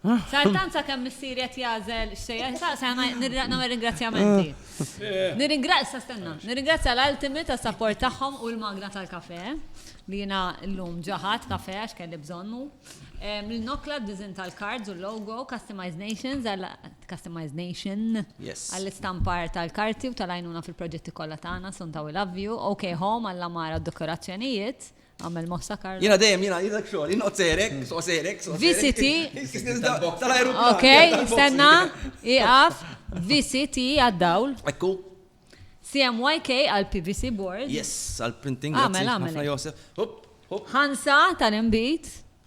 Sartan sa kemm missieri qed jagħżel x'se jaqra' se nagħmel ringrazzjamenti. Nirringrazzja stenna, nirringrazzja l-Ultimate għas-sapport tagħhom u l-magna tal-kafè li jiena llum ġa ħadt kafè għax kelli bżonnu. Lil Nokla għad-diżinn tal-cards u l-logo, Customized Nations għal Customized Nation għall-istampar tal-karti u tal-għajnuna fil-proġetti kollha tagħna, Sunta We Love You, OK Home għall-għamara u d-dekorazzjonijiet, Għamel mossa Karl. Jena dejjem jena jidek xogħol, jien serek, so serek, so VCT. Ok, stenna, iqaf, VCT għad-dawl. Ekku. CMYK għal PVC board. Yes, għal printing. Għamel, għamel. Josef. Hop, hop. Hansa tal-imbit.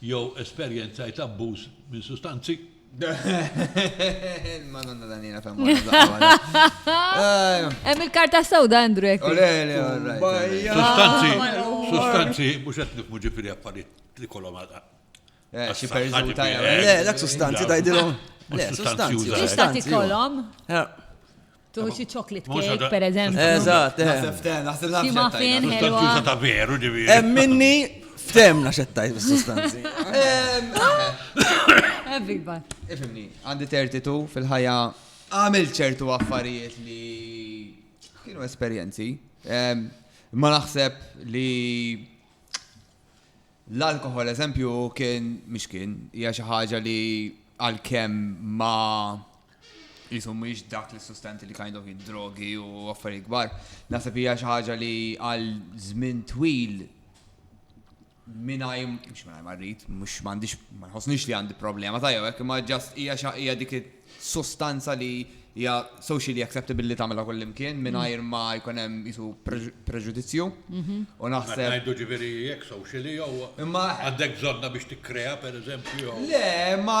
jew esperjenzajt abbuż minn sustanzi. Il-Madonna Daniela ta' Hemm il-karta sewda Andrew hekk. Sustanzi, sustanzi mhux qed nifmu ġifieri affarijiet li kolhom għadha. Eh, xi perżuni tajja. Le, dak sustanzi tgħidilhom. Le, sustanzi. Sustanzi kolhom. Eh. Tuħu xi chocolate cake, per eżempju. Eżatt, eh. Naħseb ftem, naħseb naħseb. Xi muffin, ħelwa. Tuża ta' veru, ġivi. Eh, minni ftem naxettajt bis-sustanzi. Everybody. Ifimni, għandi 32 fil-ħajja għamil ċertu affarijiet li kienu esperjenzi. Ma naħseb li l-alkohol, eżempju, kien, mux kien, hija xi ħaġa li għal-kem ma qisu mhux dak l-sustanti li kind of id-drogi u affarijiet kbar. Naħseb hija xi ħaġa li għal żmien twil minaj, mux minaj marrit, mux mandiġ, ma nħosnix li għandi problema ta' jew, ma ġast hija hija dik sostanza li hija socially acceptable li tagħmilha kull imkien mingħajr ma jkun hemm isu preġudizzju. Mhm. U naħseb. Ngħidu ġifieri jekk socially jew. Imma għandek bżonna biex tikkrea pereżempju. Le, ma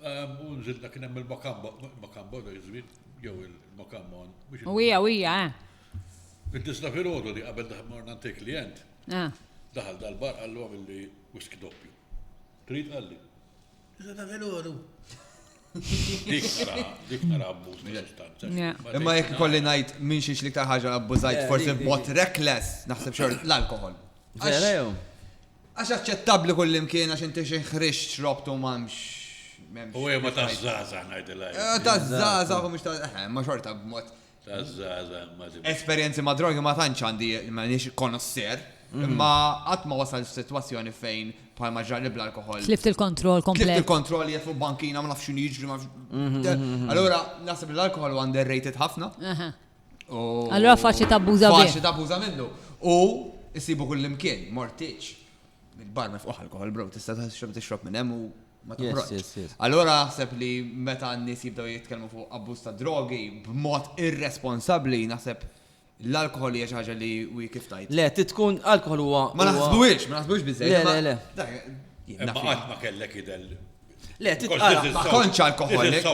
U nżilna kien hemm il-Makambo, il-Makambo dak iż-żmien, jew il-Makamon. U hija, u hija, eh. Id-disna filgħodu li qabel morna ntik klient, daħal dal-bar qallu għamilli whisky doppju. Trid qalli. Iżda filgħodu. Dik nara, dik nara abbuż minn sostanza. Imma jekk kolli ngħid minn xiex li ta' ħaġa abbużajt forsi b'mod reckless naħseb xor l-alkohol. Vera jew? Għax aċċettabli kullimkien għax inti xi ħriġt xrobt u m'hemmx. m'hemmx- U jema ta' zaza najdilaj. Eh, Ta' zaza, u mhux ta' eh, ma xorta b'mod. Ta' zaza, ma tibqa. Esperjenzi ma' drogi ma tantx għandi m'għandix konosser, imma qatt ma wasal f'sitwazzjoni fejn bħalma ġrali bl-alkohol. Tlift il-kontroll Tlift komplet. il-kontroll jgħet fuq bankina, ma nafx xinu jiġri, ma nafx. Allura, naħseb li l-alkohol huwa underrated ħafna. Aha. Allura faċli tabbuża minnu. Faċli tabbuża minnu. U issibu kull imkien, mortiċ. Il-bar mifqu alkohol, bro, tista' tixrob tixrob minn hemm u ma toħroġx. Allura naħseb li meta n-nies jibdew jitkellmu fuq abbuż ta' drogi b'mod irresponsabbli, naħseb l-alkohol hija xi ħaġa li wi kif tajt. Le, titkun alkohol huwa. Ma naħsbuhiex, ma naħsbuhiex biżejjed. Le, le, le. Imma qatt ma kellek idel Le, titqara, ma kontx alkoholik.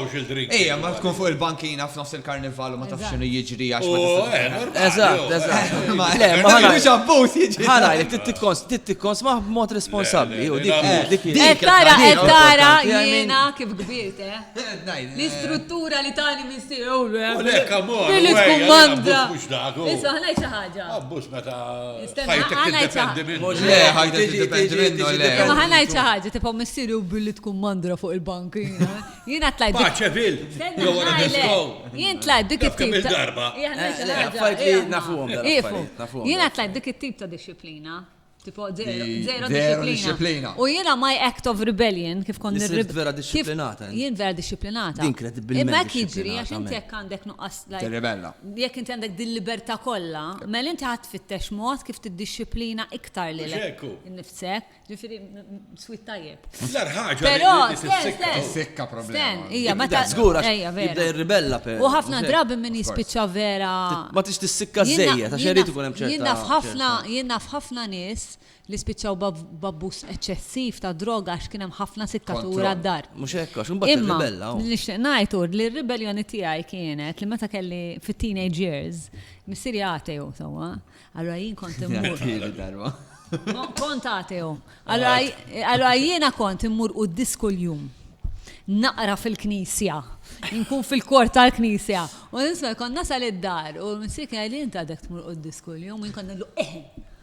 Ejja, ma tkun fuq il-bankina f'nofs il-karnival u ma tafx x'inhu jiġri għax ma tafx. Eżatt, eżatt. Ma ħanajx abbuż jiġri. Ħanajlek titkons ma b'mod responsabbli. Qed tara, qed tara jiena kif kbirt, eh? L-istruttura li tani missier. Lek, amor. Fil-kumanda. Issa ħanajt xi ħaġa. Abbuż meta. ħajtek tiddependi minnu. Le, ħajtek tiddependi minnu, le. Ma ħanajt xi ħaġa, tibqa' missieri u billi tkun mandra fuq il-bank. Jiena tlajt. Paċe vil, jew wara disko. Jien tlajt dik it-tip. Kemm darba. Jiena tlajt dik it-tip ta' disciplina. Tipo, zero disciplina. U jiena my act of rebellion, kif kont nirrib. Vera disciplinata. Jien vera disciplinata. Din kredibilment. Imma jiġri għax inti jekk għandek nuqqas tirribella. Jekk inti għandek dil-libertà kollha, mela inti ħa tfittex mod kif tiddixxiplina iktar lilek innifsek. Ġifieri sweet tajjeb. L-ar ħaġa. Però tissikka problema. Hija meta żgur għax jibda jirribella per. U ħafna drabi min jispiċċa vera. Ma tix tissikka żejja ta' xejn ikun hemm ċerta. Jien naf ħafna, jien naf ħafna nies li spiċċaw b'abbuż eċċessiv tad-droga għax kien hemm ħafna sikkatur għad-dar. Mhux hekk għax imbagħad tirribella. Imma li nixtieq ngħid hu li r-ribelljoni tiegħi kienet li meta kelli fit-teenage years, missieri ateu sewwa, allura jien kont immur. Kont ateu. Allura jiena kont immur quddies kuljum. Naqra fil-knisja. Inkun fil-kor tal-knisja. U nisma' kont nasal id-dar u missieri kien jgħidli int għadek tmur quddies kuljum, jien kont ngħidlu eħe.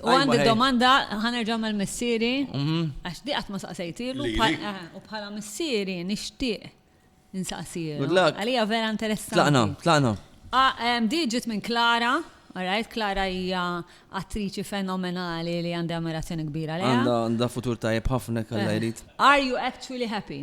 U għandi domanda, ħanerġa' mal-missieri, għax di qatt ma saqsejtilu, u bħala missieri nixtieq insaqsilu. Għalija vera interessanti. Tlaqna, tlaqna. Di ġiet minn Klara, alright, Klara hija attriċi fenomenali li għandi ammirazzjoni kbira lejha. Għandha futur tajjeb ħafna jekk Alla jrid. Are you actually happy?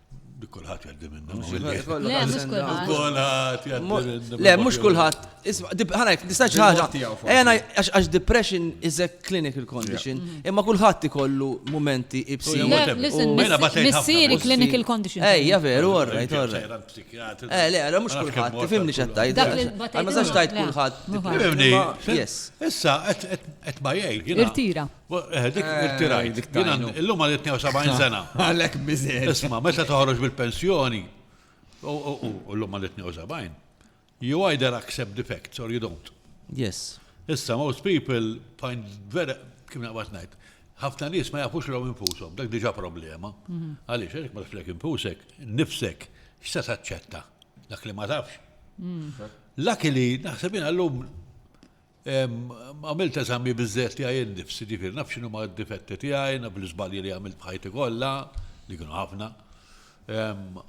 Kulħadd jgħaddi minna. Le, mhux kulħadd. Ħana jek, nistax ħaġa. Ejna għax depression is a clinical condition, mm-hmm. imma kulħadd ikollu momenti ibsi. Missieri clinical condition. Ejja veru, orrajt, orrajt. Eh, le, le, mhux kulħadd, tifhimni x'qed tajt. Ma sax tajt kulħadd. Tifhimni. Issa qed ma jgħid. Irtira. Eh, dik eh, irtirajt. Illum għal 72 sena. Għalek biżej. Isma, meta toħroġ bil-pensjoni, u l-lum għal 72, you either accept the facts or you don't. Yes. Issa, most people find very, kim naqbat najt, ħafna nies ma jafux l infushom, dak diġa problema. Mhm. Għaliex, għaliex ma tafx infusek, nifsek, x'se taċċetta, dak li ma tafx. Mm. Laki li naħseb jien għallum Għamilt eżami biżżejjed tiegħi innifsi, ġifieri naf x'inhuma d-difetti tiegħi, naf l-iżbalji li għamilt f'ħajti kollha, li kienu ħafna.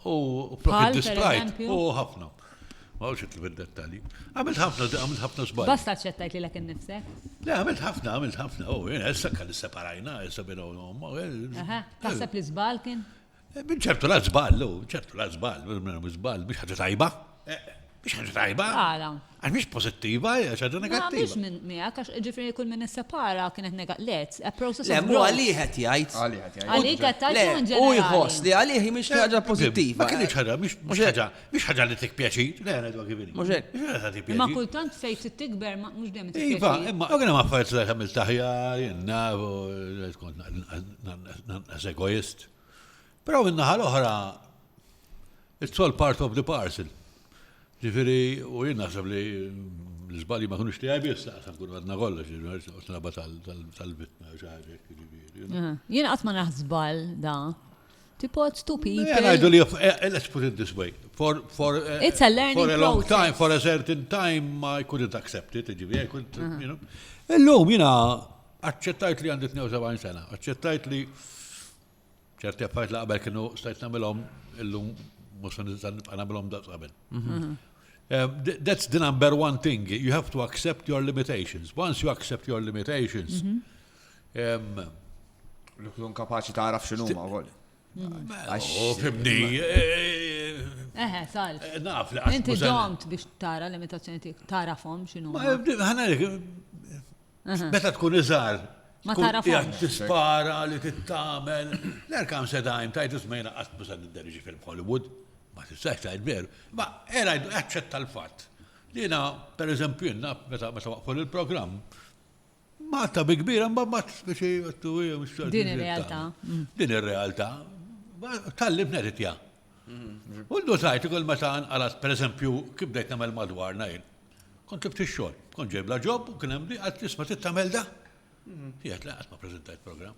U flok id-distrajt, u ħafna. Ma għawx itlu fid-dettalji. Għamilt ħafna, għamilt ħafna sbagħ. Basta ċettajt li l-ek nifse? Le, għamilt ħafna, għamilt ħafna. U jena, issa kalli separajna, issa bina u nomma. Taħseb li sbal kien? Minn ċertu la żball, lu, ċertu la żball, minn żball, mhux ħaġa tajba. Mhux ħaġa tajba. Għala. Għax mhux pożittiva, hija ħaġa Ma negattiva. biex minn miegħek għax ġifieri kull min issepara kienet nega let, a process Le, of mu growth. għalih qed jgħid. Għalih qed jgħid. Għalik qed Le, tgħid in u ġenerali. jħoss li għalih hi mhix ħaġa pożittiva. Ma kienx ħaġa, mhux mhux ħaġa. Mhix ħaġa li tik pjaċir, le ngħidu kif inhi. Mhux hekk. Mhux ħaġa tik pjaċir. Imma kultant fejn trid tikber mhux dejjem tik pjaċir. Iva, imma hawn hemm affarijiet li tagħmel taħjar, jenna, tkun nanqas egoist. Però min-naħa l-oħra, it's all part of the parcel. Ġifieri, u jien naħseb li l-żbalji ma kunux tiegħi biss taqsam kun għadna kollox, tal-vittma xi ħaġa. Jien qatt ma naħsbal da. to put two people. Yeah, ngħidu li eh, eh, let's put it this way. For, for, uh, It's a learning for a long process. time, for a certain time, I couldn't accept it, ġivi, I couldn't, uh -huh. you know. Illum jina aċċettajt li għandit 72 sena, aċċettajt li ċerti affarijiet li qabel kienu stajt nagħmilhom illum mhux nista' nibqa' nagħmilhom daqs qabel. Mhm. Um, that's the number one thing. You have to accept your limitations. Once you accept your limitations, mm -hmm. Li tkun kapaċi taraf x'inhuma wkoll. Oh, fimni. Eħe, eh, tal. Eh, naf li Inti domt biex tara l-imitazzjoni tiegħek, tarafhom x'inhu. Ħanalik, meta tkun iżgħar. Ma tarafhom. Tispara li tittamel. L-erkam sedajn tajt ismejna qatt musa nidderġi film Hollywood. Ma tistax tajt veru. Ma era jdu aċċetta l-fatt. Dina, per eżempju, jenna, meta waqfu il-programm, Malta bi kbira mbagħad ma tistax jgħattu hija mhux tal- Din ir-realtà. Din ir-realtà. Tallim neritja. U ndutajt ukoll meta nqalas pereżempju kif bdejt nagħmel madwarna jien. Kont ibt ix-xogħol, kont ġejbla ġob u kien hemm li qatt isma' trid tagħmel da. Jgħid le qatt ma preżentajt programm.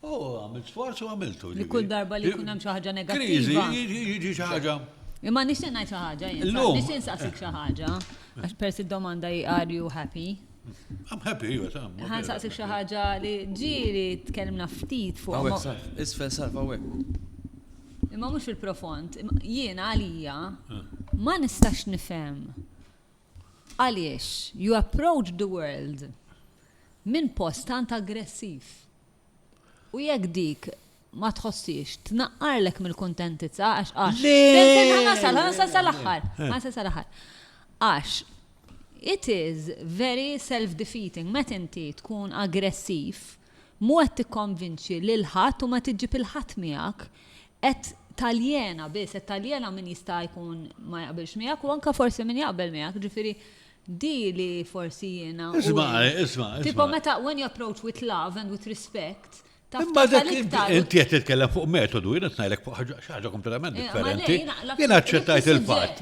Oh, għamilt sforz u għamiltu. Li kull darba li jkun hemm xi ħaġa negattiva. Jiġi xi ħaġa. Imma nixtieq ngħid xi ħaġa jien. Nixtieq nsaqsik xi ħaġa. Għax persi d-domanda hi are you happy? I'm happy, iva, ta' mhmm. Ħa nsaqsik xi ħaġa li ġieli tkellimna ftit fuq. Hawnhekk sarf, isfel sarf hawnhekk. Imma mhux fil-profond, jiena għalija ma nistax nifhem Għaliex, you approach the world minn post tant aggressiv. U jekk dik ma tħossiex tnaqqarlek mill-kuntentizza għax għax. Le! Ħanasal, ħanasal sal-aħħar. Eh. Ħanasal sal-aħħar. Għax it is very self-defeating met inti tkun aggressiv mu qed tikkonvinċi lil ħadd u ma tiġib il-ħadd miegħek Qed taljena biss, qed taljena min jista' jkun ma jaqbilx miegħek u anke forsi min jaqbel miegħek, ġifieri di li forsi jiena. Isma', isma'. Tipo meta when you approach with love and with respect, Imma dak inti qed titkellem fuq metodu, jiena qed ngħidlek fuq ħaġa kompletament differenti. Jiena aċċettajt il-fatt.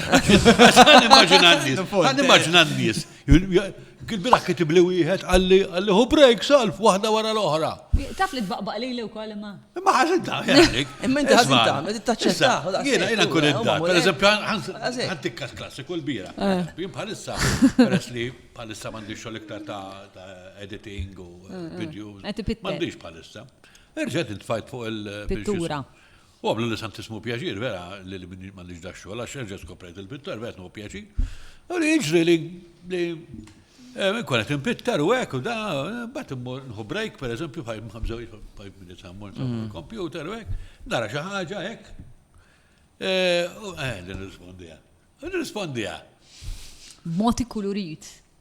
Għan immaġina n-nis, għan immaġina n-nis. Għil-bira kitib li wieħed għalli għalli hu break salf waħda wara l-oħra. Taf li tbaqbaq li l-ew kol imma. Imma ħazin ta' jgħalik. Imma inti ħazin ta' ma tittaċċetta. Jena jena kun id-da. Per eżempju, għantikkas klassiku l-bira. Eh. Jien bħalissa, peress li bħalissa mandi xol iktar ta' editing u eh, eh. videos. Mandiġ bħalissa. Irġet intfajt fuq il-pittura. U għamlu li santissimu pjaċir, vera, li li minni mandiġ da xogħol, għax erġa' skoprejt il-pittar, vera tnu pjaċir. U li jiġri li li eh, konet impittar u hekk u da, bat immur nħu break, per eżempju, fajb mħabżaw, fajb minni tammur, mm. kompjuter u hekk, nara xi ħaġa hekk. Eh, u eh, li nirrispondiha. Nirrispondiha. Moti kulurit.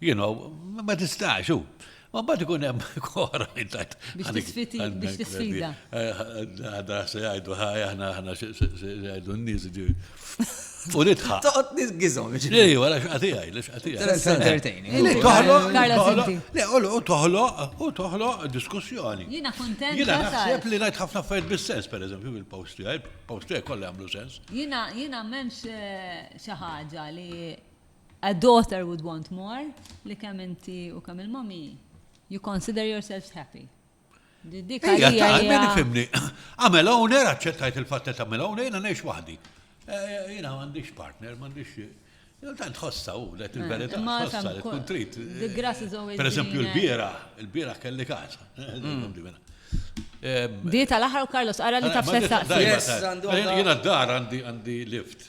You know, ma tistax, u. Ma bat ikun hemm kora li tajt. Biex tisfiti, biex tisfida. Għada se jgħidu ħaj, aħna aħna se jgħidu n-nies ġi. U nitħa. Toqgħod nies gizom. Ej, wara x'qati għaj, li x'qati għaj. Entertaining. Li toħloq. Le, u toħloq, u toħloq diskussjoni. Jiena kontent. Jiena naħseb li ngħid ħafna affarijiet bis-sens, pereżempju, bil-post tiegħi, post tiegħi kollha jagħmlu sens. Jiena jiena m'hemmx eh, xi ħaġa li A daughter would want more li kemm inti u kemm il-mommy you consider yourselves happy. Dik għalija. Għamel fimni. Għamel owner, għacċettajt il-fatta ta' għamel owner, jina neħx wahdi. Eh, jina għandix partner, għandix. Tant ħossa u, let eh, il-verita, ħossa li tkun trit. The grass is always Per eżempju, il-bira, il-bira kelli kasa. Di tal-aħħar u Carlos, ara li taf sessa. Jina d-dar għandi lift.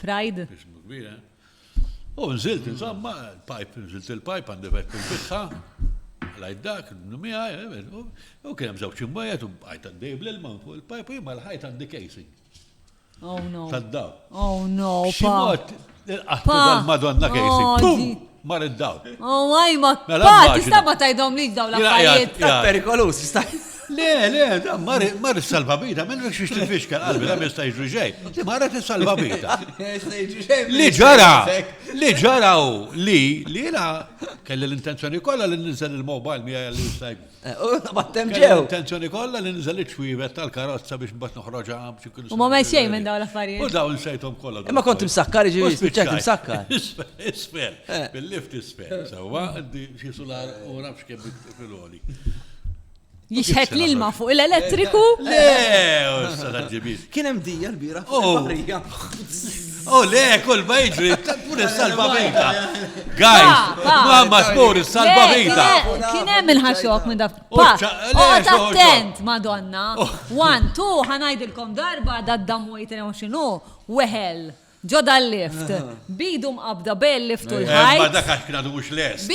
Pride. Ismu kbir, eh? U nżilt, insomma, il-pipe, nżilt il-pipe għandi vek fil-bitħa, lajt dak, numija, eh, u kien hemm żewġ imwejjed u bqajt għaddej bl-ilma fuq il-pipe u jimma l-ħajt għandi casing. Oh no. Tad-daw. Oh no. Ximot, il-qattu dal-Madonna casing. Oh, Mar id-dawl. Oh, għaj, ma mela, pa, tista ma tajdom li daw la fajiet. Ta' perikolus, tista. Le, le, da, mar salva bita, minn rek xiex tifixka għalbi, da, mista jġu ġej. Li marra t-salva bita. Li ġara, li ġara u li, li la, kelli l-intenzjoni kolla li ninżel il-mobile mi għalli jistajbu. Battem ġew. Intenzjoni kollha li nżel iċ-ċwievet tal-karozza biex mbagħad noħroġha biex ikun. U ma mel xejn minn dawn l-affarijiet. U dawn sejthom kollha. Imma kont imsakkar ġifieri spiċċajt imsakkar. Isfel, eh. bil-lift isfel. Sewwa xi sular u nafx kemm fil-għoli. Jixħet l-ilma fuq l-elettriku. Le, Kien hemm dija l-bira. Oh. U le, kull ma jiġri, pur salva vita. Guys, ma ma spur salva vita. Kien hemm il-ħaxok minn daf. Għad attent, madonna. Oh. One, two, ħanajdilkom darba da d-damu jitrew xinu, weħel. Ġoda l-lift, ah. bidu mqabda bejn lift u eh, l-ħajt. Ma dak għax kienu mux les.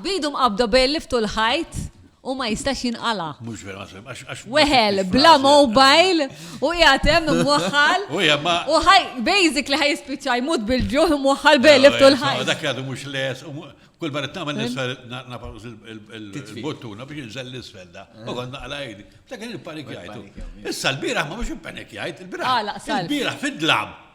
Bidu mqabda bejn lift u l-ħajt. u ma jistax jinqala. Mhux vera ma semmix. Weħel bla mobile u qiegħed hemm imwaħħal. U hija ma. U ħaj basic li ħaj jispiċċa jmut bil-ġuħ imwaħħal bejlib tul ħaj. Dak li għadu mhux les u kull barra tagħmel l-isfel nafaqs il-bottuna biex inżel l-isfel da. U kont naqla jdi. Dak kien il-panik jgħid. Issa l-bieraħ ma mhux il-panik jgħid, il-bieraħ. Il-bieraħ fid-dlam.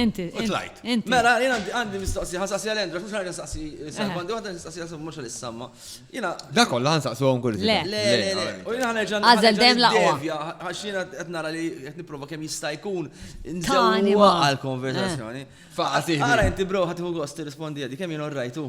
Inti. U tlajt. Inti. Mela, jien għandi mistoqsi, ħansaqsi għal Endra, mhux għandi nsaqsi Sam, għandi waħda nsaqsi għal Sam, mhux għal Samma. Jiena. Da kollha ħansaqsu hawn kull Le, le, le. U jiena ħanerġa' Għażel dejjem laqwa. Għax jiena qed nara li qed nipprova kemm jista' jkun nżewwa għall-konversazzjoni. Faqati. Ara inti bro ħadd iħu gost tirrispondi għadi kemm jien orrajtu.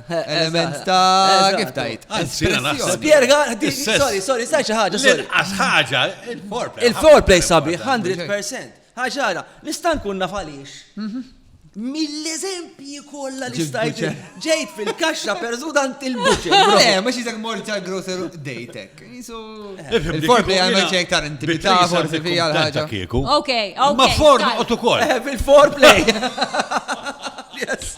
Element ta' kif tajt. Spierga, sorry, sorry, sa' xi ħaġa, sorry. Għax ħaġa, il-foreplay. Il-foreplay sabi, 100%. ħaġara, nista' nkun naf għaliex. Mhm. Mill-eżempji kollha li stajt ġejt fil-kaxxa perżudant il-buċċer. Le, eh, ma xi dak mort tal grocer dejtek. Il-foreplay għandna ċejk tar intimità forsi fija l-ħaġa. Ok, ok. Ma forn u ukoll. Eh, fil-foreplay. Yes.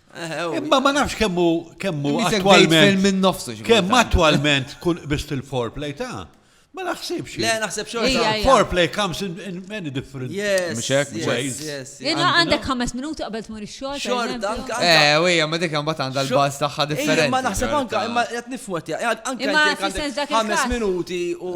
Imma ma nafx kemmu kemmu attualment. minn nofsu. Kemm attualment kun biss il-foreplay ta' Ma naħsibx. Le, naħseb xorta. Foreplay comes in, in many different yes, ways. Yes, Jena għandek ħames minuti qabel tmur ix-xogħol. Xorta, anka. Eh, wija, ma dik imbagħad għandha l-baż tagħha differenti. Imma naħseb anka, imma qed nifwet, anka ħames minuti u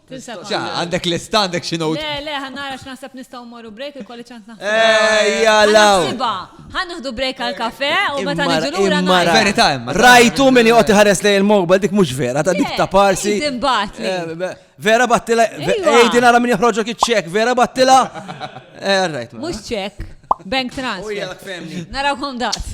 Ġa, għandek lista, għandek xi note. Le, le, ħannara x'naħseb nistgħu mmorru break il-kolli ċans naħseb. Ejja, law. Ħanħdu break għal kafe u meta niġu lura nara. Verità imma. Rajtu min joqgħod iħares lejn il-mobile dik mhux vera, ta' dik ta' parsi. Eh, vera battila, ejdi nara min joħroġok iċ-ċek, vera battila. Eh, mhux ċek, bank transfer. Narawkom daqt.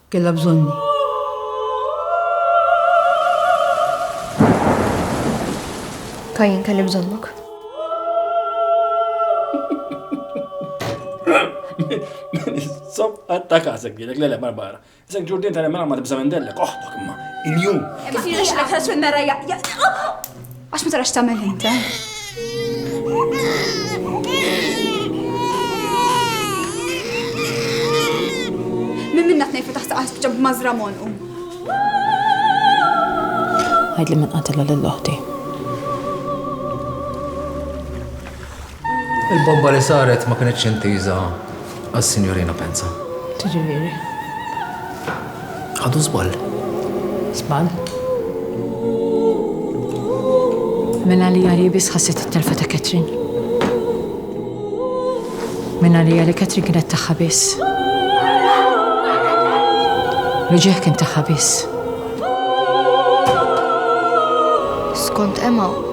Kellha bżonni. Ka jien kelli bżonnok. Sob, għatta kasek dilek, lele, barbara. Isek ġurdin tal-emra ma tibza minn dellek, oħtok imma, il-jum. Kif jirix l-ekħas minn mera jaqqa. Għax ma tarax tagħmel ħin ta'. Min minna tnejn fetaħ ta' qasb ġab mażra monqu. Għajd li minn qatilha lill-oħti. Il-bomba li saret ma kinitx intiża għas-Sinjorina Penza. Tiġifieri? Ħadu żball. Żball? Minn għalija li biss ħasset it-telfa ta' Katrin. Minn għalija li Katrin kienet tagħha biss. Reġieħ kien tagħha biss. Skont Emma,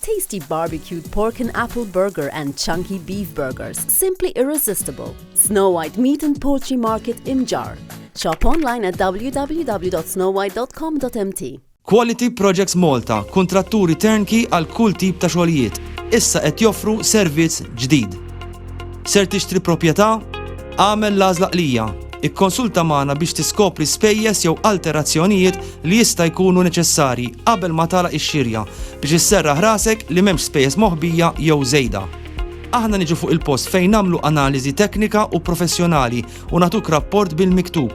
Tasty barbecued pork and apple burger and chunky beef burgers simply irresistible. Snow White Meat and Poultry Market Imġarr. Shop online at www.snowwhite.com.mt. Quality Projects Malta, kuntratturi turnkey għal kull tip ta' xogħlijiet, issa qed joffru servizz ġdid. Ser tixtri proprjetà? Agħmel l-għażla qlija. Ikkonsulta magħna biex tiskopri spejjeż jew alterazzjonijiet li jista' jkunu neċessarji qabel ma tagħlaq ix-xirja biex isserraħ rasek li m'hemmx spejjeż moħbija jew żejda. Aħna niġu fuq il-post fejn nagħmlu analiżi teknika u professjonali u nagħtuk rapport bil-miktub.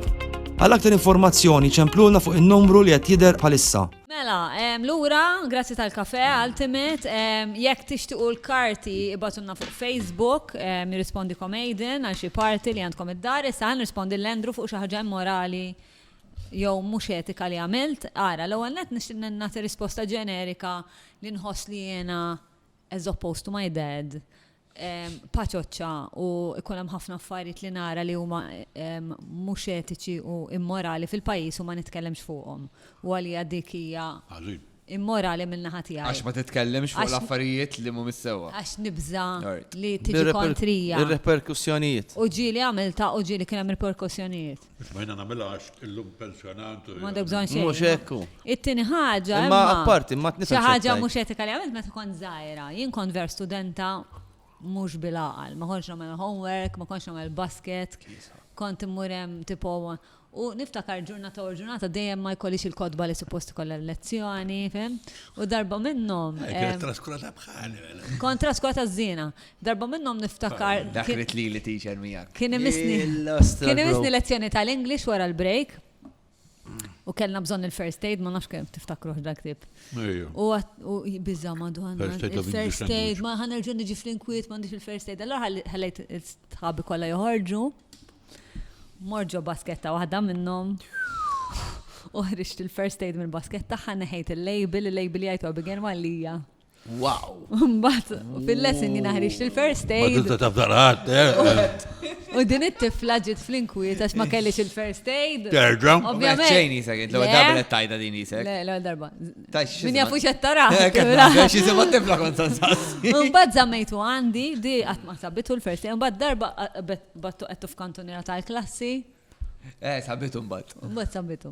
Għal aktar informazzjoni ċemplulna fuq in-numru li qed jidher bħalissa. Mela, lura, grazzi tal-kafè, Ultimate. Jekk tixtiequ l-karti, ibgħatulna fuq Facebook, jirrispondikom Aidan għal xi party li għandkom id-dar. Issa ħa nirrispondi lil Andrew fuq xi ħaġa immorali jew mhux etika li għamilt. Ara, l-ewwel nett nixtieq nagħti risposta ġenerika li nħoss li jiena, as opposed to my dad, paċoċċa u jkun hemm ħafna affarijiet li nara li huma mhux etiċi u immorali fil-pajjiż u ma nitkellimx fuqhom. U għalija dik hija immorali min-naħa tiegħi. Għax ma titkellimx fuq l-affarijiet li mhumiex sewwa. Għax nibża' li tiġi kontrija. Ir-riperkussjonijiet. U ġieli għamiltha u ġieli kien hemm riperkussjonijiet. Mhux ma jiena nagħmilha għax illum pensjonant. M'għandek bżonn xejn. Mhux hekk hu. It-tieni ħaġa. Imma apparti, ma tnisa. Xi ħaġa mhux etika li għamilt meta kont żgħira. Jien kont ver studenta mhux bil-għaqal. Ma kontx nagħmel homework, ma kontx nagħmel basket. Kont immur hemm tipo U niftakar ġurnata u ġurnata dejjem ma jkollix il-kodba li suppost kollha l-lezzjoni, fem? U darba minnhom. Kont traskurata żina. Darba minnhom niftakar. Dak rid lili teacher miegħek. Kien imissni. Kien imissni lezzjoni tal-English wara l-break. U kellna bżonn il-first aid, ma nafx kemm tiftakruh dak tip. U biża madonna. Il-first aid, ma ħanerġu niġi fl-inkwiet, ma nix il-first aid. Allora ħallejt il-sħabi kollha joħorġu. Morġo basketta waħda minnhom. Uħriġt il-first aid mill-basketta, ħaneħejt il-label, il-label jgħid Abigail Malija. Wow! Mbatt, fil-lesson jina ħriġt il-first aid. Ma tista' tafdar ħadd, eh? U din it-tifla ġiet fl-inkwiet għax ma kellix il-first aid. Terġa. Ovvjament. Xejn jisek, l darba li tajta din jisek. Le, l darba. Min jafu xed tara. Xi sema tifla kont sansassi. Mbagħad żammejtu għandi, di qatt ma sabitu l-first aid, mbagħad darba battu qed f'kantuniera tal-klassi. Eh, sabitu mbagħad. Mbagħad sabitu.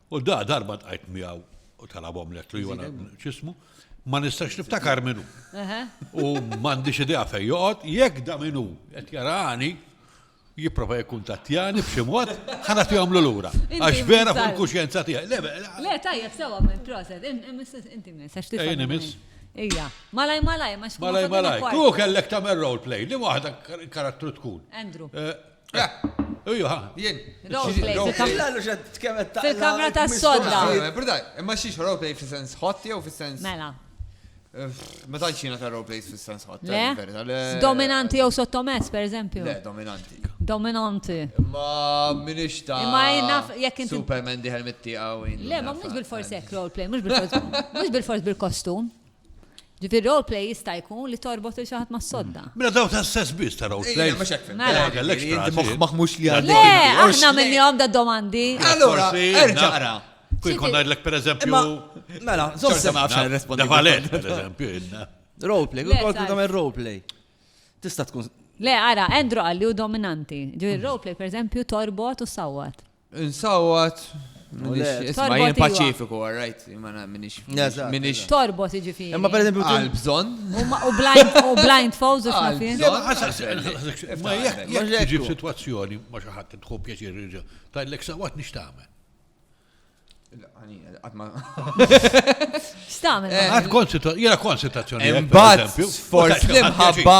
U da darba tqajt miegħu u talabhom lettru jew x'ismu, ma nistax niftakar minnu. U m'għandix idea fejn joqgħod, jekk da minnu qed jarani, jipprova jkun tatjani b'xi mod, ħana tihom lura. Għax vera fuq il-kuxjenza tiegħi. Le tajjeb sewa minn proset, inti miss għax tista' miss. Ija, malaj malaj, ma xkun. Malaj malaj, tu kellek tagħmel role play, li waħda karattru tkun. Andrew. Eh, Uju, ha, jien. Fil-kamra ta' sodda. Imma xiex roleplay fil-sens hot jew fil-sens. Mela. Ma tantx jiena ta' roleplays fil-sens hot. Le. Dominanti jew sottomess, per eżempju. Le, dominanti. Dominanti. Ma minix ta' Ma naf jekk inti. Superman diħel mit-tieqa u Le, ma mhux bil-fors hekk roleplay, mhux bil-fors. Mhux bil-fors bil-kostum. Ġifieri role play jista' jkun li torbot il xi ħadd mas-sodda. Mela daw ta' sess biss ta' role play. Mhux hekk. Mela. Ma kellekx Inti frasi. moħħ maħmux li għandek. Le, inti, għax- aħna minnihom da domandi. Allura, Forsi, erġa' naf. qra. Kien kont ngħidlek pereżempju. Imma, mela, żomm Xorta sew. ma nafx għal nirrispondi. Da valet, pereżempju, inna. Role play, Le, kont sar. tagħmel role play. Tista' tkun Le, ara, Andrew qalli u dominanti. Ġifieri role play, per eżempju, torbot u sawwat. Insawat, Isma jien paċifiku, all right, imma minix. Minix. Torbot iġifi. Imma per eżempju. Għal bżon. U blind falls u xafin. Ma jek ġib situazzjoni ma xaħat tħu pjaċir rġa. Ta' l-ek sawat nix taħmen. Stamen. Għad konsitazzjoni. Imbagħad forsi mħabba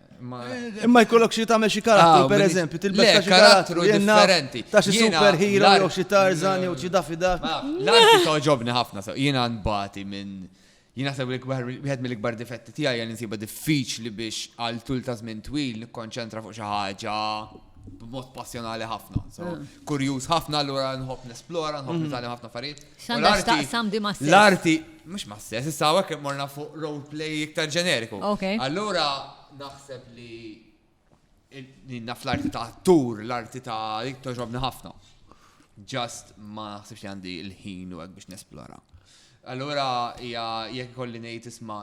Imma jkollok xi tagħmel xi karattru, ah, pereżempju, tilbes ta' xi karattru differenti. Ta' xi superhero jew xi Tarzan jew xi Dafida. L-arti toġobni ħafna, jiena nbati minn jiena sew wieħed mill-ikbar difetti tiegħi għal insiba diffiċli biex għal tul ta' żmien twil nikkonċentra fuq xi ħaġa b'mod passjonali ħafna. Mm. Kurjuż ħafna allura nħobb nesplora, nħobb mm. nitgħallem ħafna affarijiet. X'għandha x'taqsam di ma' L-arti mhux ma' sess, issa hawnhekk morna fuq roleplay iktar ġeneriku. Allura naħseb li ninna fl-arti ta' tur, l-arti ta' dik toġobni ħafna. Just ma naħsibx li għandi l-ħin u għek biex nesplora. Allura, jek kolli nejt isma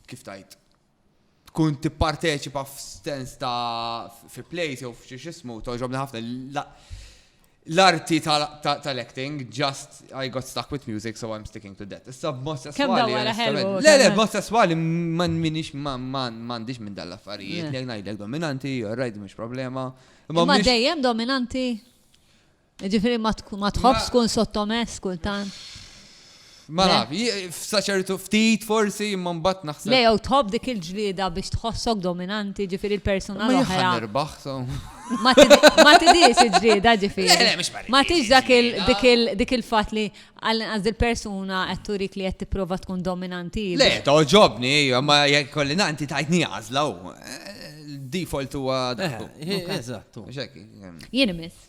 kif tajt, tkun tipparteċipa f'stens ta' fi plays jew f'xi xismu, toġobni ħafna l-arti tal-acting, just I got stuck with music, so I'm sticking to that. Issa b'mod sesswali. Le, le, b'mod sesswali man minix mandiġ minn dal-affarijiet, li ngħidlek dominanti, rajt mhux problema. Ma dejjem dominanti? Ġifiri ma tħobx tkun sottomess kultant. Ma naf, f'saċertu ftit forsi imma mbagħad naħseb. Le jew tħobb dik il-ġlieda biex tħossok dominanti ġifieri l-persuna l-oħra. Ma Ma tidix il-ġlieda ġifieri. Ma tidix dak il-fatt li għal-inqas il-persuna qed turik li qed tipprova tkun dominanti. Le, toġobni, ma jekk kolli nanti tajtni għażla u default huwa. Eżatt. Jien imiss.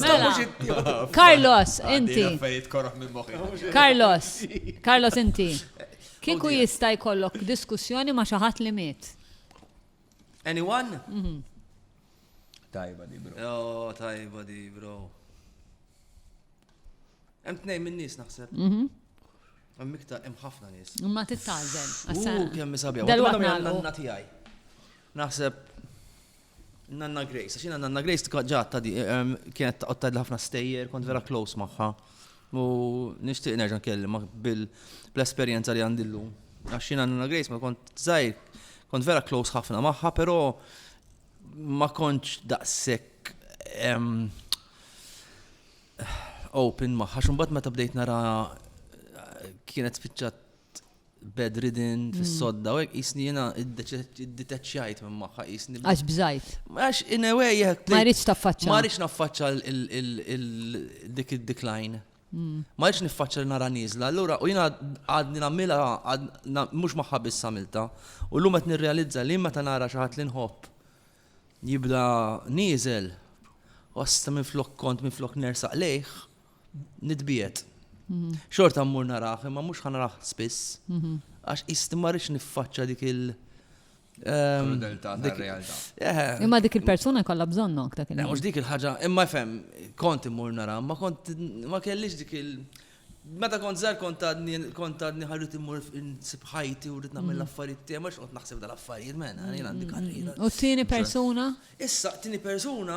Mela, Carlos, inti. Carlos, Carlos, inti. Kieku jista' jkollok diskussjoni ma' xi ħadd li miet. Anyone? Mhm. Tajba di, bro. Oh, tajba di, bro. Hemm tnejn minn nies naħseb. Mhm. Hemm iktar hemm ħafna nies. Ma titgħażel. U kemm isabja. Dal-waqt nagħlqu. Naħseb Nanna Grace, għax jiena Nanna Grace tkun ġa tadi, ehm, kienet taqgħod tgħidli ħafna stejjer, kont vera close magħha. U nixtieq nerġa' nkellimha bil-esperjenza li għandi llum. Għax jiena Nanna Grace ma kont żgħir, kont vera close ħafna magħha, però ma kontx daqshekk ehm, open magħha, x'mbagħad meta bdejt nara kienet spiċċat bedridden, fis-sodda, u hekk jisni jiena dditeċċjajt minn magħha jisni. Għax bżajt. Għax in a way jekk. Ma rridx taffaċċa. Ma rridx naffaċċa dik id-decline. Hmm. Ma rridx niffaċċa li nara nieżla, allura u jiena għadni nagħmilha mhux magħha biss għamilta. U llum qed nirrealizza li meta nara xi ħadd li nħobb jibda nieżel, wasta minn flok kont minn flok nersaq lejh, Nitbiet. Mhm. Xorta mmur naraħ, imma mhux ħan naraħ spiss. Mhm. Għax jist ma rridx niffaċċa dik il- ehm, Krudeltà tar-realtà. Eh. Imma dik il-persuna jkollha bżonnok dak il-ħin. Mhux dik il-ħaġa, imma fem, kont immur nara, ma kont ma kellix dik il- Meta kont żgħar kont għadni kont għadni ħarrit immur nsib ħajti u rrid nagħmel mm. l-affarijiet tiegħi ma x'qod naħseb dal-affarijiet mena, jien għandi mm. karriera. U t-tieni persuna? Issa, t-tieni persuna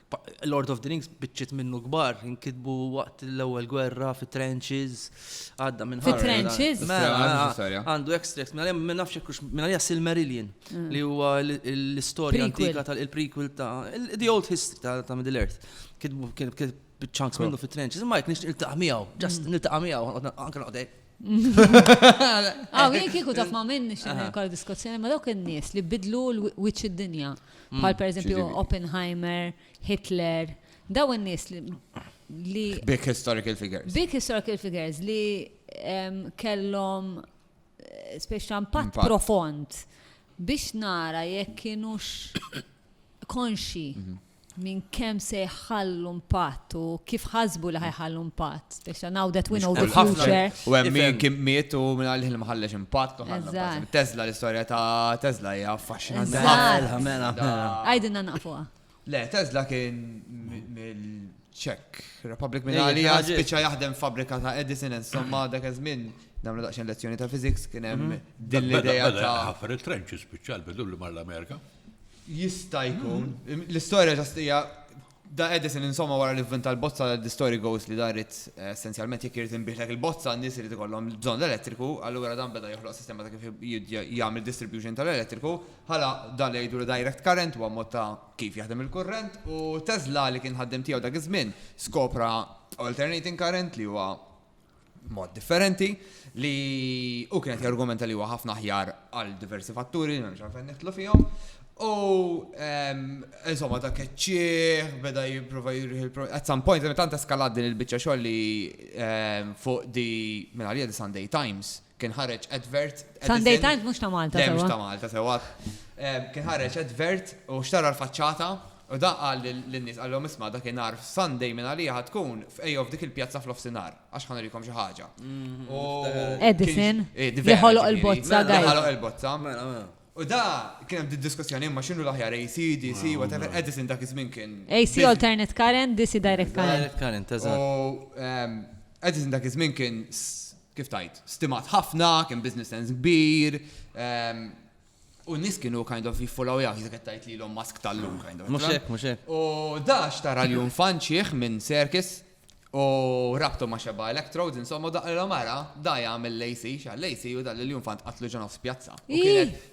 Lord of the Rings biċċiet minnu kbar, inkitbu waqt l-ewwel gwerra fi trenches, għadda minn Fi trenches? Mela, għandu extracts, mela ma nafx hekk mela hija Silmarillion mm. li huwa l-istorja antika tal-prequel ta' The Old History ta' Middle Earth. Kitbu kien biċċanks minnu fi trenches, ma jekk nix niltaqa' miegħu, just mm. niltaqa' miegħu, anke noqdek. Għaw, jien kieku taf ma' minn nixin kol diskussjoni ma' dawk in-nies li bidlu l-wiċċ id-dinja. Bħal pereżempju Oppenheimer, Hitler, daw in-nies li. Big historical figures. Big historical figures li kellhom eh, speċi impatt profond biex nara jekk kienux konxi mhm. minn kemm se jħallu impatt u kif ħasbu li ħajħallu impatt. Issa now that we know the future. U hemm min kien miet u minn għalih li ma ħallex impatt. Tesla l-istorja ta' Tesla hija affaxxinanti. Mela, mela, mela. Għajdinna naqfuha. Le, Tesla kien mill-Czech Republic minn għalija spiċċa jaħdem fabrika ta' Edison insomma dak iż-żmien namlu daqsxejn lezzjoni ta' physics kien hemm mhm. din l-idea ta' ħafar il-trenċi spiċċa l-bidu li mar l-Amerika. Jista' jkun. L-istorja ġastija Da Edison insomma wara li vvinta l-bozza The Story Goes li da rrid essenzjalment jekk irid inbiegħlek il-bozza n-nies irid ikollhom bżonn l-elettriku, allura dan beda joħloq sistema ta' kif jagħmel distribution tal-elettriku, ħala da li jgħidulu direct current huwa mod ta' kif jaħdem il-kurrent u Tesla li kien ħaddiem tiegħu dak iż-żmien skopra alternating current li huwa mod differenti li u kienet jargumenta li huwa ħafna ħjar għal diversi fatturi li nġan fejn nitlu fihom. U ehm, insomma ta' keċċieħ, beda jipprova jirriħ il At some point, tant eskalat din il-biċċa xogħol li ehm, fuq di minn għalija di Sunday Times Kien ħareġ advert. Sunday Times mhux ta' Malta. Le mhux ta' Malta sewwa. Kien ħareġ advert u xtara l-faċċata u da qal lin-nies qalhom isma' dakinhar f'Sunday minn għalija ħa tkun f'Ejjov dik il-pjazza f'nofsinhar għax ħa nurikom xi ħaġa. U Edison li ħoloq il-bozza guys. Ħoloq il-bozza. Mela mela. U da kien hemm din diskussjoni imma x'inhu l-aħjar AC, DC, whatever, Edison dak iż-żmien kien. AC alternate current, DC direct current. Direct current, eżatt. U Edison dak iż-żmien kien kif tgħid, stimat ħafna, kien business sense kbir, u n-nies kienu kind of jiffollow jgħak, jizek tgħid li l-om mask tal-lum kind of. Mhux hekk, mhux hekk. U dax tara li jum fanċieħ minn Serkis u rabtu ma' xeba electrodes, insomma daqqa l-om ara, da jagħmel l-AC, xal-AC u dal-jum fant qatlu ġonof spjazza.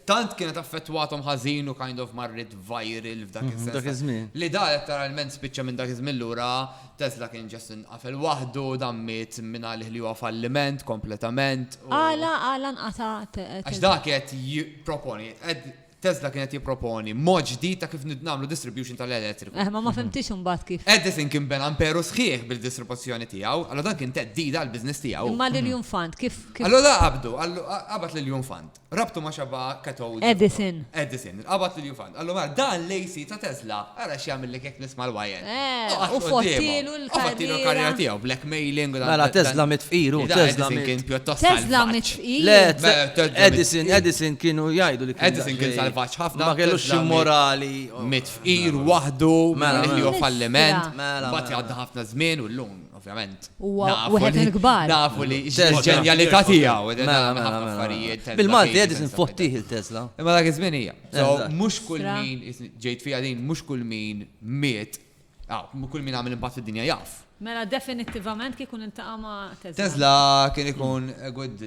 tant kienet affettwathom ħażin u kind of marret viral f'dak Mhm, is-sens. dak ta- iż-żmien. Li da letteralment spiċċa minn dak iż-żmien lura Tesla kien ġast inqafel waħdu, dan miet minn għalih li huwa falliment kompletament. u- Għala, għala nqata' te- Għax Tesla? dak qed jipproponi, qed- Tesla kien qed jipproponi mod ġdid ta' kif nid- nagħmlu distribution tal-elettriku. Eh, ma ma fimtix imbagħad kif. Edison kien ben amperu sħiħ bil-distribuzzjoni tiegħu, allora dan kien teddida għall-biżness tiegħu. Imma l-Union Fund kif kif Allora da qabdu, għallu- qabat lil Jun Fund. Rabtu ma' xabba katodi. Edison. Edison, il-qabad li l-jufan. Għallu mar, dan l-AC ta' Tesla, ara x'jagħmel li kek nisma' l-wajen. Eh, u fottilu l-karriera. U fottilu l-karriera tiegħu, blackmailing u dan. Mela Tesla mit fqir u Tesla mit. Kien pjuttost. Tesla mit fqir. Le, Edison, Edison kienu jgħidu li kien. Edison kien salvaġġ ħafna. Ma kellux xi morali. Mit fqir waħdu, mela li falliment. Mela. Mbagħad jgħadda ħafna żmien u llum. Ovvjament. Wieħed il-kbar. Nafu li ġenjalità tiegħu. Mela, mela, mela. Bil-Malti qed infottih il-Tesla. Imma dak iż-żmien hija. Mhux kull min ġejt fiha din, mhux kull min miet, kull min għamel impatt fid-dinja jaf. Mela definittivament kif ikun intaqa' ma' Tesla. Tesla kien ikun good.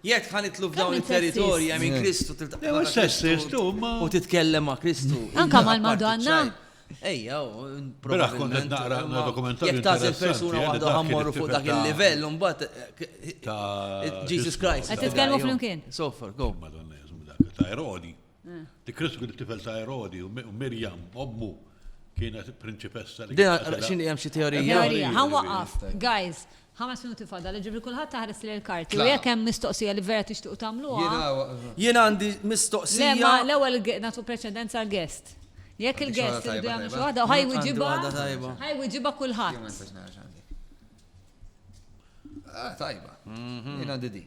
Jekk ħa nitlu f'dawn it-territorji hemm in Kristu tiltaqa' ma' Kristu u titkellem ma' Kristu. Anka mal-Madonna. Ejja, probabbilment naqra dokumentarju. Jekk tażel persuna waħda ħammorru fuq dak il-livell, mbagħad Jesus Christ. Qed titkellmu flimkien. Soffer, go. Madonna, dak ta' Erodi. Li Kristu kien it-tifel ta' Erodi u Mirjam, ommu, kienet prinċipessa li. Dina, xini hemm xi teorija? Teorija, ħa waqaf. Guys, ħames minuti fada, li ġibri kulħadd taħres li l-karti. U jekk hemm mistoqsija li vera tixtiqu tagħmluha. Jien għandi mistoqsija. Le, l-ewwel nagħtu preċedenza għal guest. Jekk il-guest irid jagħmel xi waħda, ħaj wiġiba. Ħaj wiġiba kulħadd. Ah, tajba. Mhm. Jien għandi di.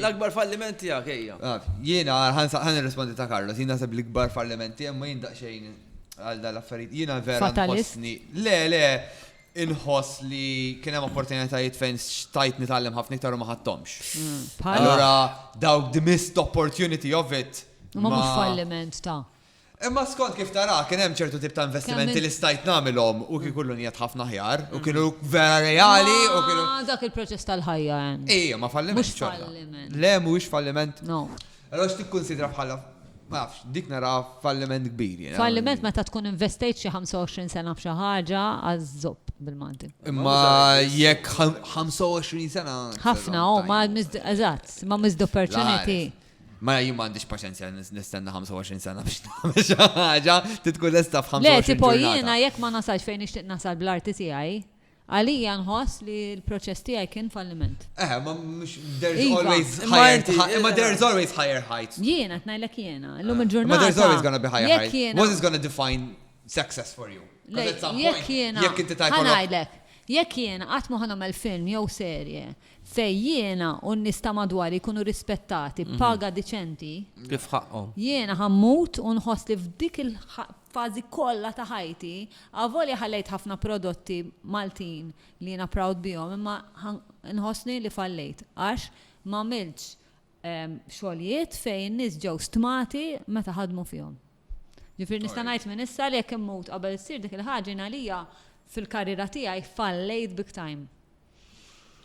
L-akbar falliment tiegħek ejja. Jiena ħan nirrispondi ta' Carlos, jiena naħseb l-ikbar falliment tiegħek ma jindaq xejn għal dal-affarijiet. Jiena vera nħossni. Le, le, inħoss li kien hemm opportunitajiet fejn xtajt nitgħallem ħafna iktar u ma ħadtomx. Mm, Allora dawk the missed opportunity of it. Ma mhux falliment ta' Imma skont kif tara, kien hemm ċertu tip ta' investimenti li stajt nagħmilhom u kieku llum qiegħed ħafna aħjar u kienu vera reali u kienu. Ma dak il-proċess tal-ħajja hemm. Ejja, ma falliment. Mhux falliment. Le, mhuwiex falliment. No. Allura x'tikkunsidra bħala, ma nafx, dik nara falliment kbir jiena. Falliment meta tkun investejt xi 25 sena f'xi ħaġa għaż-żopp bil-Malti. Imma jekk 25 sena. Ħafna, oh, ma eżatt, ma missed opportunity. Ma jien ma għandix paċenzja nistenna 25 sena biex nagħmel xi ħaġa, titkun lesta f'25 sena. Le, tipo jiena jekk ma nasalx fejn nixtieq nasal bl-arti tiegħi, għalija nħoss li l-proċess tiegħi kien falliment. Eh, ma mhux there's iva. always higher, ma there's always higher heights. Jiena qed ngħidlek jiena, llum eh, il-ġurnata. Ma there's always gonna be higher heights. What is gonna define success for you? Jekk jiena. Jekk inti tajt. Jekk jiena qatt ma ħanomel film jew serje Fejn jiena u n-nies ta' madwari jkunu rispettati b'paga diċenti. Kif ħaqqhom. Jiena ħa mmut u nħoss li f'dik il-fażi kollha ta' ħajti, avolja ħallejt ħafna prodotti Maltin li jiena proud bihom imma nħossni li fallejt għax m'għamiltx xogħlijiet fejn in-nies ġew stmati meta ħadmu fihom. Ġifieri nista' ngħid minn issa li jekk immut qabel issir dik il-ħaġa jien għalija fil-karriera tiegħi fallejt big time.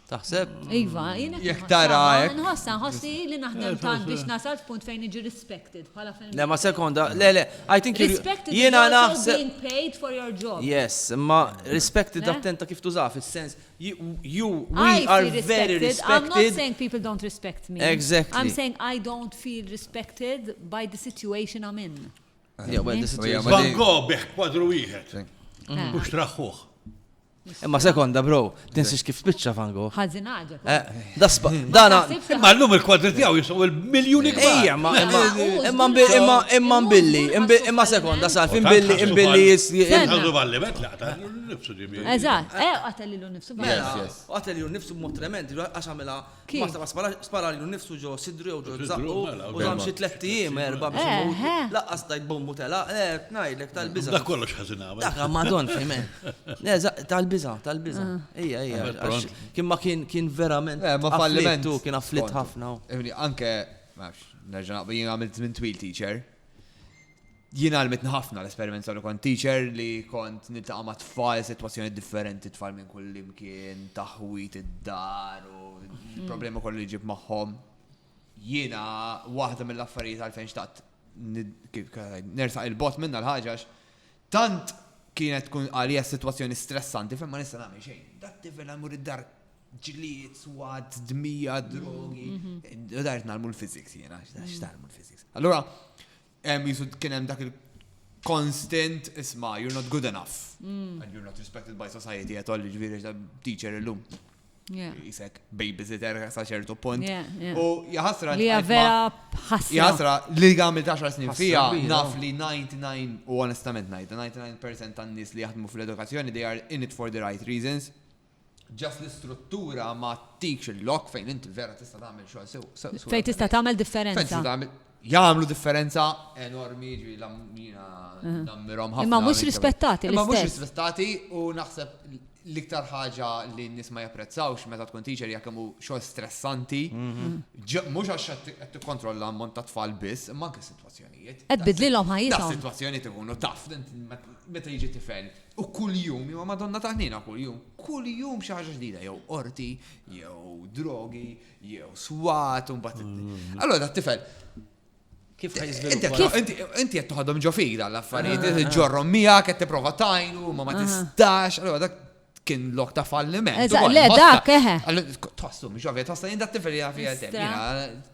Taħseb? Iva, jina. Jek tara hekk. Nħossa, nħossi li naħdem tant biex nasal f'punt fejn iġi respected bħala film. Le, ma sekonda, le, le, I think you. Respected jena naħseb. Being paid for your job. Yes, ma respected attenta kif tuża fis-sens you, you we I are very respected. I'm not saying people don't respect me. Exactly. I'm saying I don't feel respected by the situation I'm in. Yeah, well, the situation. Van Gogh biħ kwadru wieħed. Mux traħħuħ. Imma sekonda, bro, tinsiex kif spiċċa Van Gogh. Ħażin ħaġa. Eh, dasba, dana. Imma llum il-kwadri tiegħu jisqu il-miljuni kbar. Ejja, imma imma imma imma billi, imma sekonda sa fin billi imbilli jisqu valli bet laqta nifsu ġibi. Eżatt, eh qatelilu nifsu. Mela, qatelilu nifsu mod tremend, għax għamilha Kif? Basta ma spara- sparalilu nnifsu ġo sidru jew ġo F'sidru, zaqqu mela, u ok. dam xi tlett ijiem, erba' biex Eħe. imut. Laqqas tajt bommu telaq, le, ngħidlek tal-biża'. Dak kollox ħażin għamel. Dak Armagedon, fehmet. Le, za- tal-biża', tal-biża'. Ejja, ejja. Għamel għax pront. Kien ma kien, kien verament. Eh, ma falliment. afflitt hu, kien afflitt skontu. ħafna hu. Ifni, anke, ma nafx, nerġa' naqbel, jien għamilt żmien twil teacher. Jien għalmitni ħafna l-esperiment li kont teacher li kont niltaqa' ma' tfal sitwazzjoni differenti tfal minn kull imkien, taħwit id-dar u l-problema kollu li ġib magħhom. Jiena waħda mill-affarijiet għalfejn xtaqt nersaq il-bot minna l-ħaġax tant kienet tkun għalija situazzjoni stressanti fejn ma nista' nagħmel xejn. Dak tifel għamur id-dar ġlied, swad, dmija, drogi. U dart nagħmlu l-physics jiena, x'tagħmlu l-physics. Allura, hemm jisu kien hemm dak il-constant isma' you're not good enough mm. and you're not respected by society at all ġifieri ta' teacher illum. Jisek babysitter sa ċertu punt. U jahasra. Li vera ħasra. Jahasra li għamil 10 snin fija naf li 99 u onestament najt 99% tan-nies li jaħdmu fl-edukazzjoni they are in it for the right reasons. Just l-istruttura ma tikx il-lok fejn inti vera tista' tagħmel xogħol sew. Fejn tista' tagħmel differenza. Jagħmlu differenza enormi ġi l-ammina nammirhom ħafna. Imma mhux rispettati l-istess. Imma mhux rispettati u naħseb l-iktar ħaġa li n-nis ma japprezzawx meta tkun teacher jekk hemm xogħol stressanti, mhm. mhux għax qed tikkontrolla ammont ta' tfal biss, imma anke sitwazzjonijiet. Qed bidlilhom ħajjithom. Sitwazzjonijiet ikunu taf, meta jiġi tifel U kuljum, imma Madonna ta' ħniena kuljum, kuljum xi ħaġa ġdida, jew qorti, jew drogi, jew swat, un bat. Mm. Allora dat tifel Kif Inti qed toħodhom ġo fira l-affarijiet, ah, ah. ġorrom miegħek qed tipprova tajnu, ma ma ah. tistax, allora dak kien lok ta' falliment. Le dak eħe. Eh. Tħossu mhux ovvja, tħossha jien dak tifel jaf jgħidem.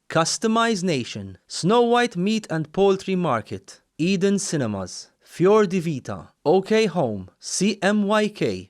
Customize Nation, Snow White Meat and Poultry Market, Eden Cinemas, Fior di Vita, OK Home, CMYK,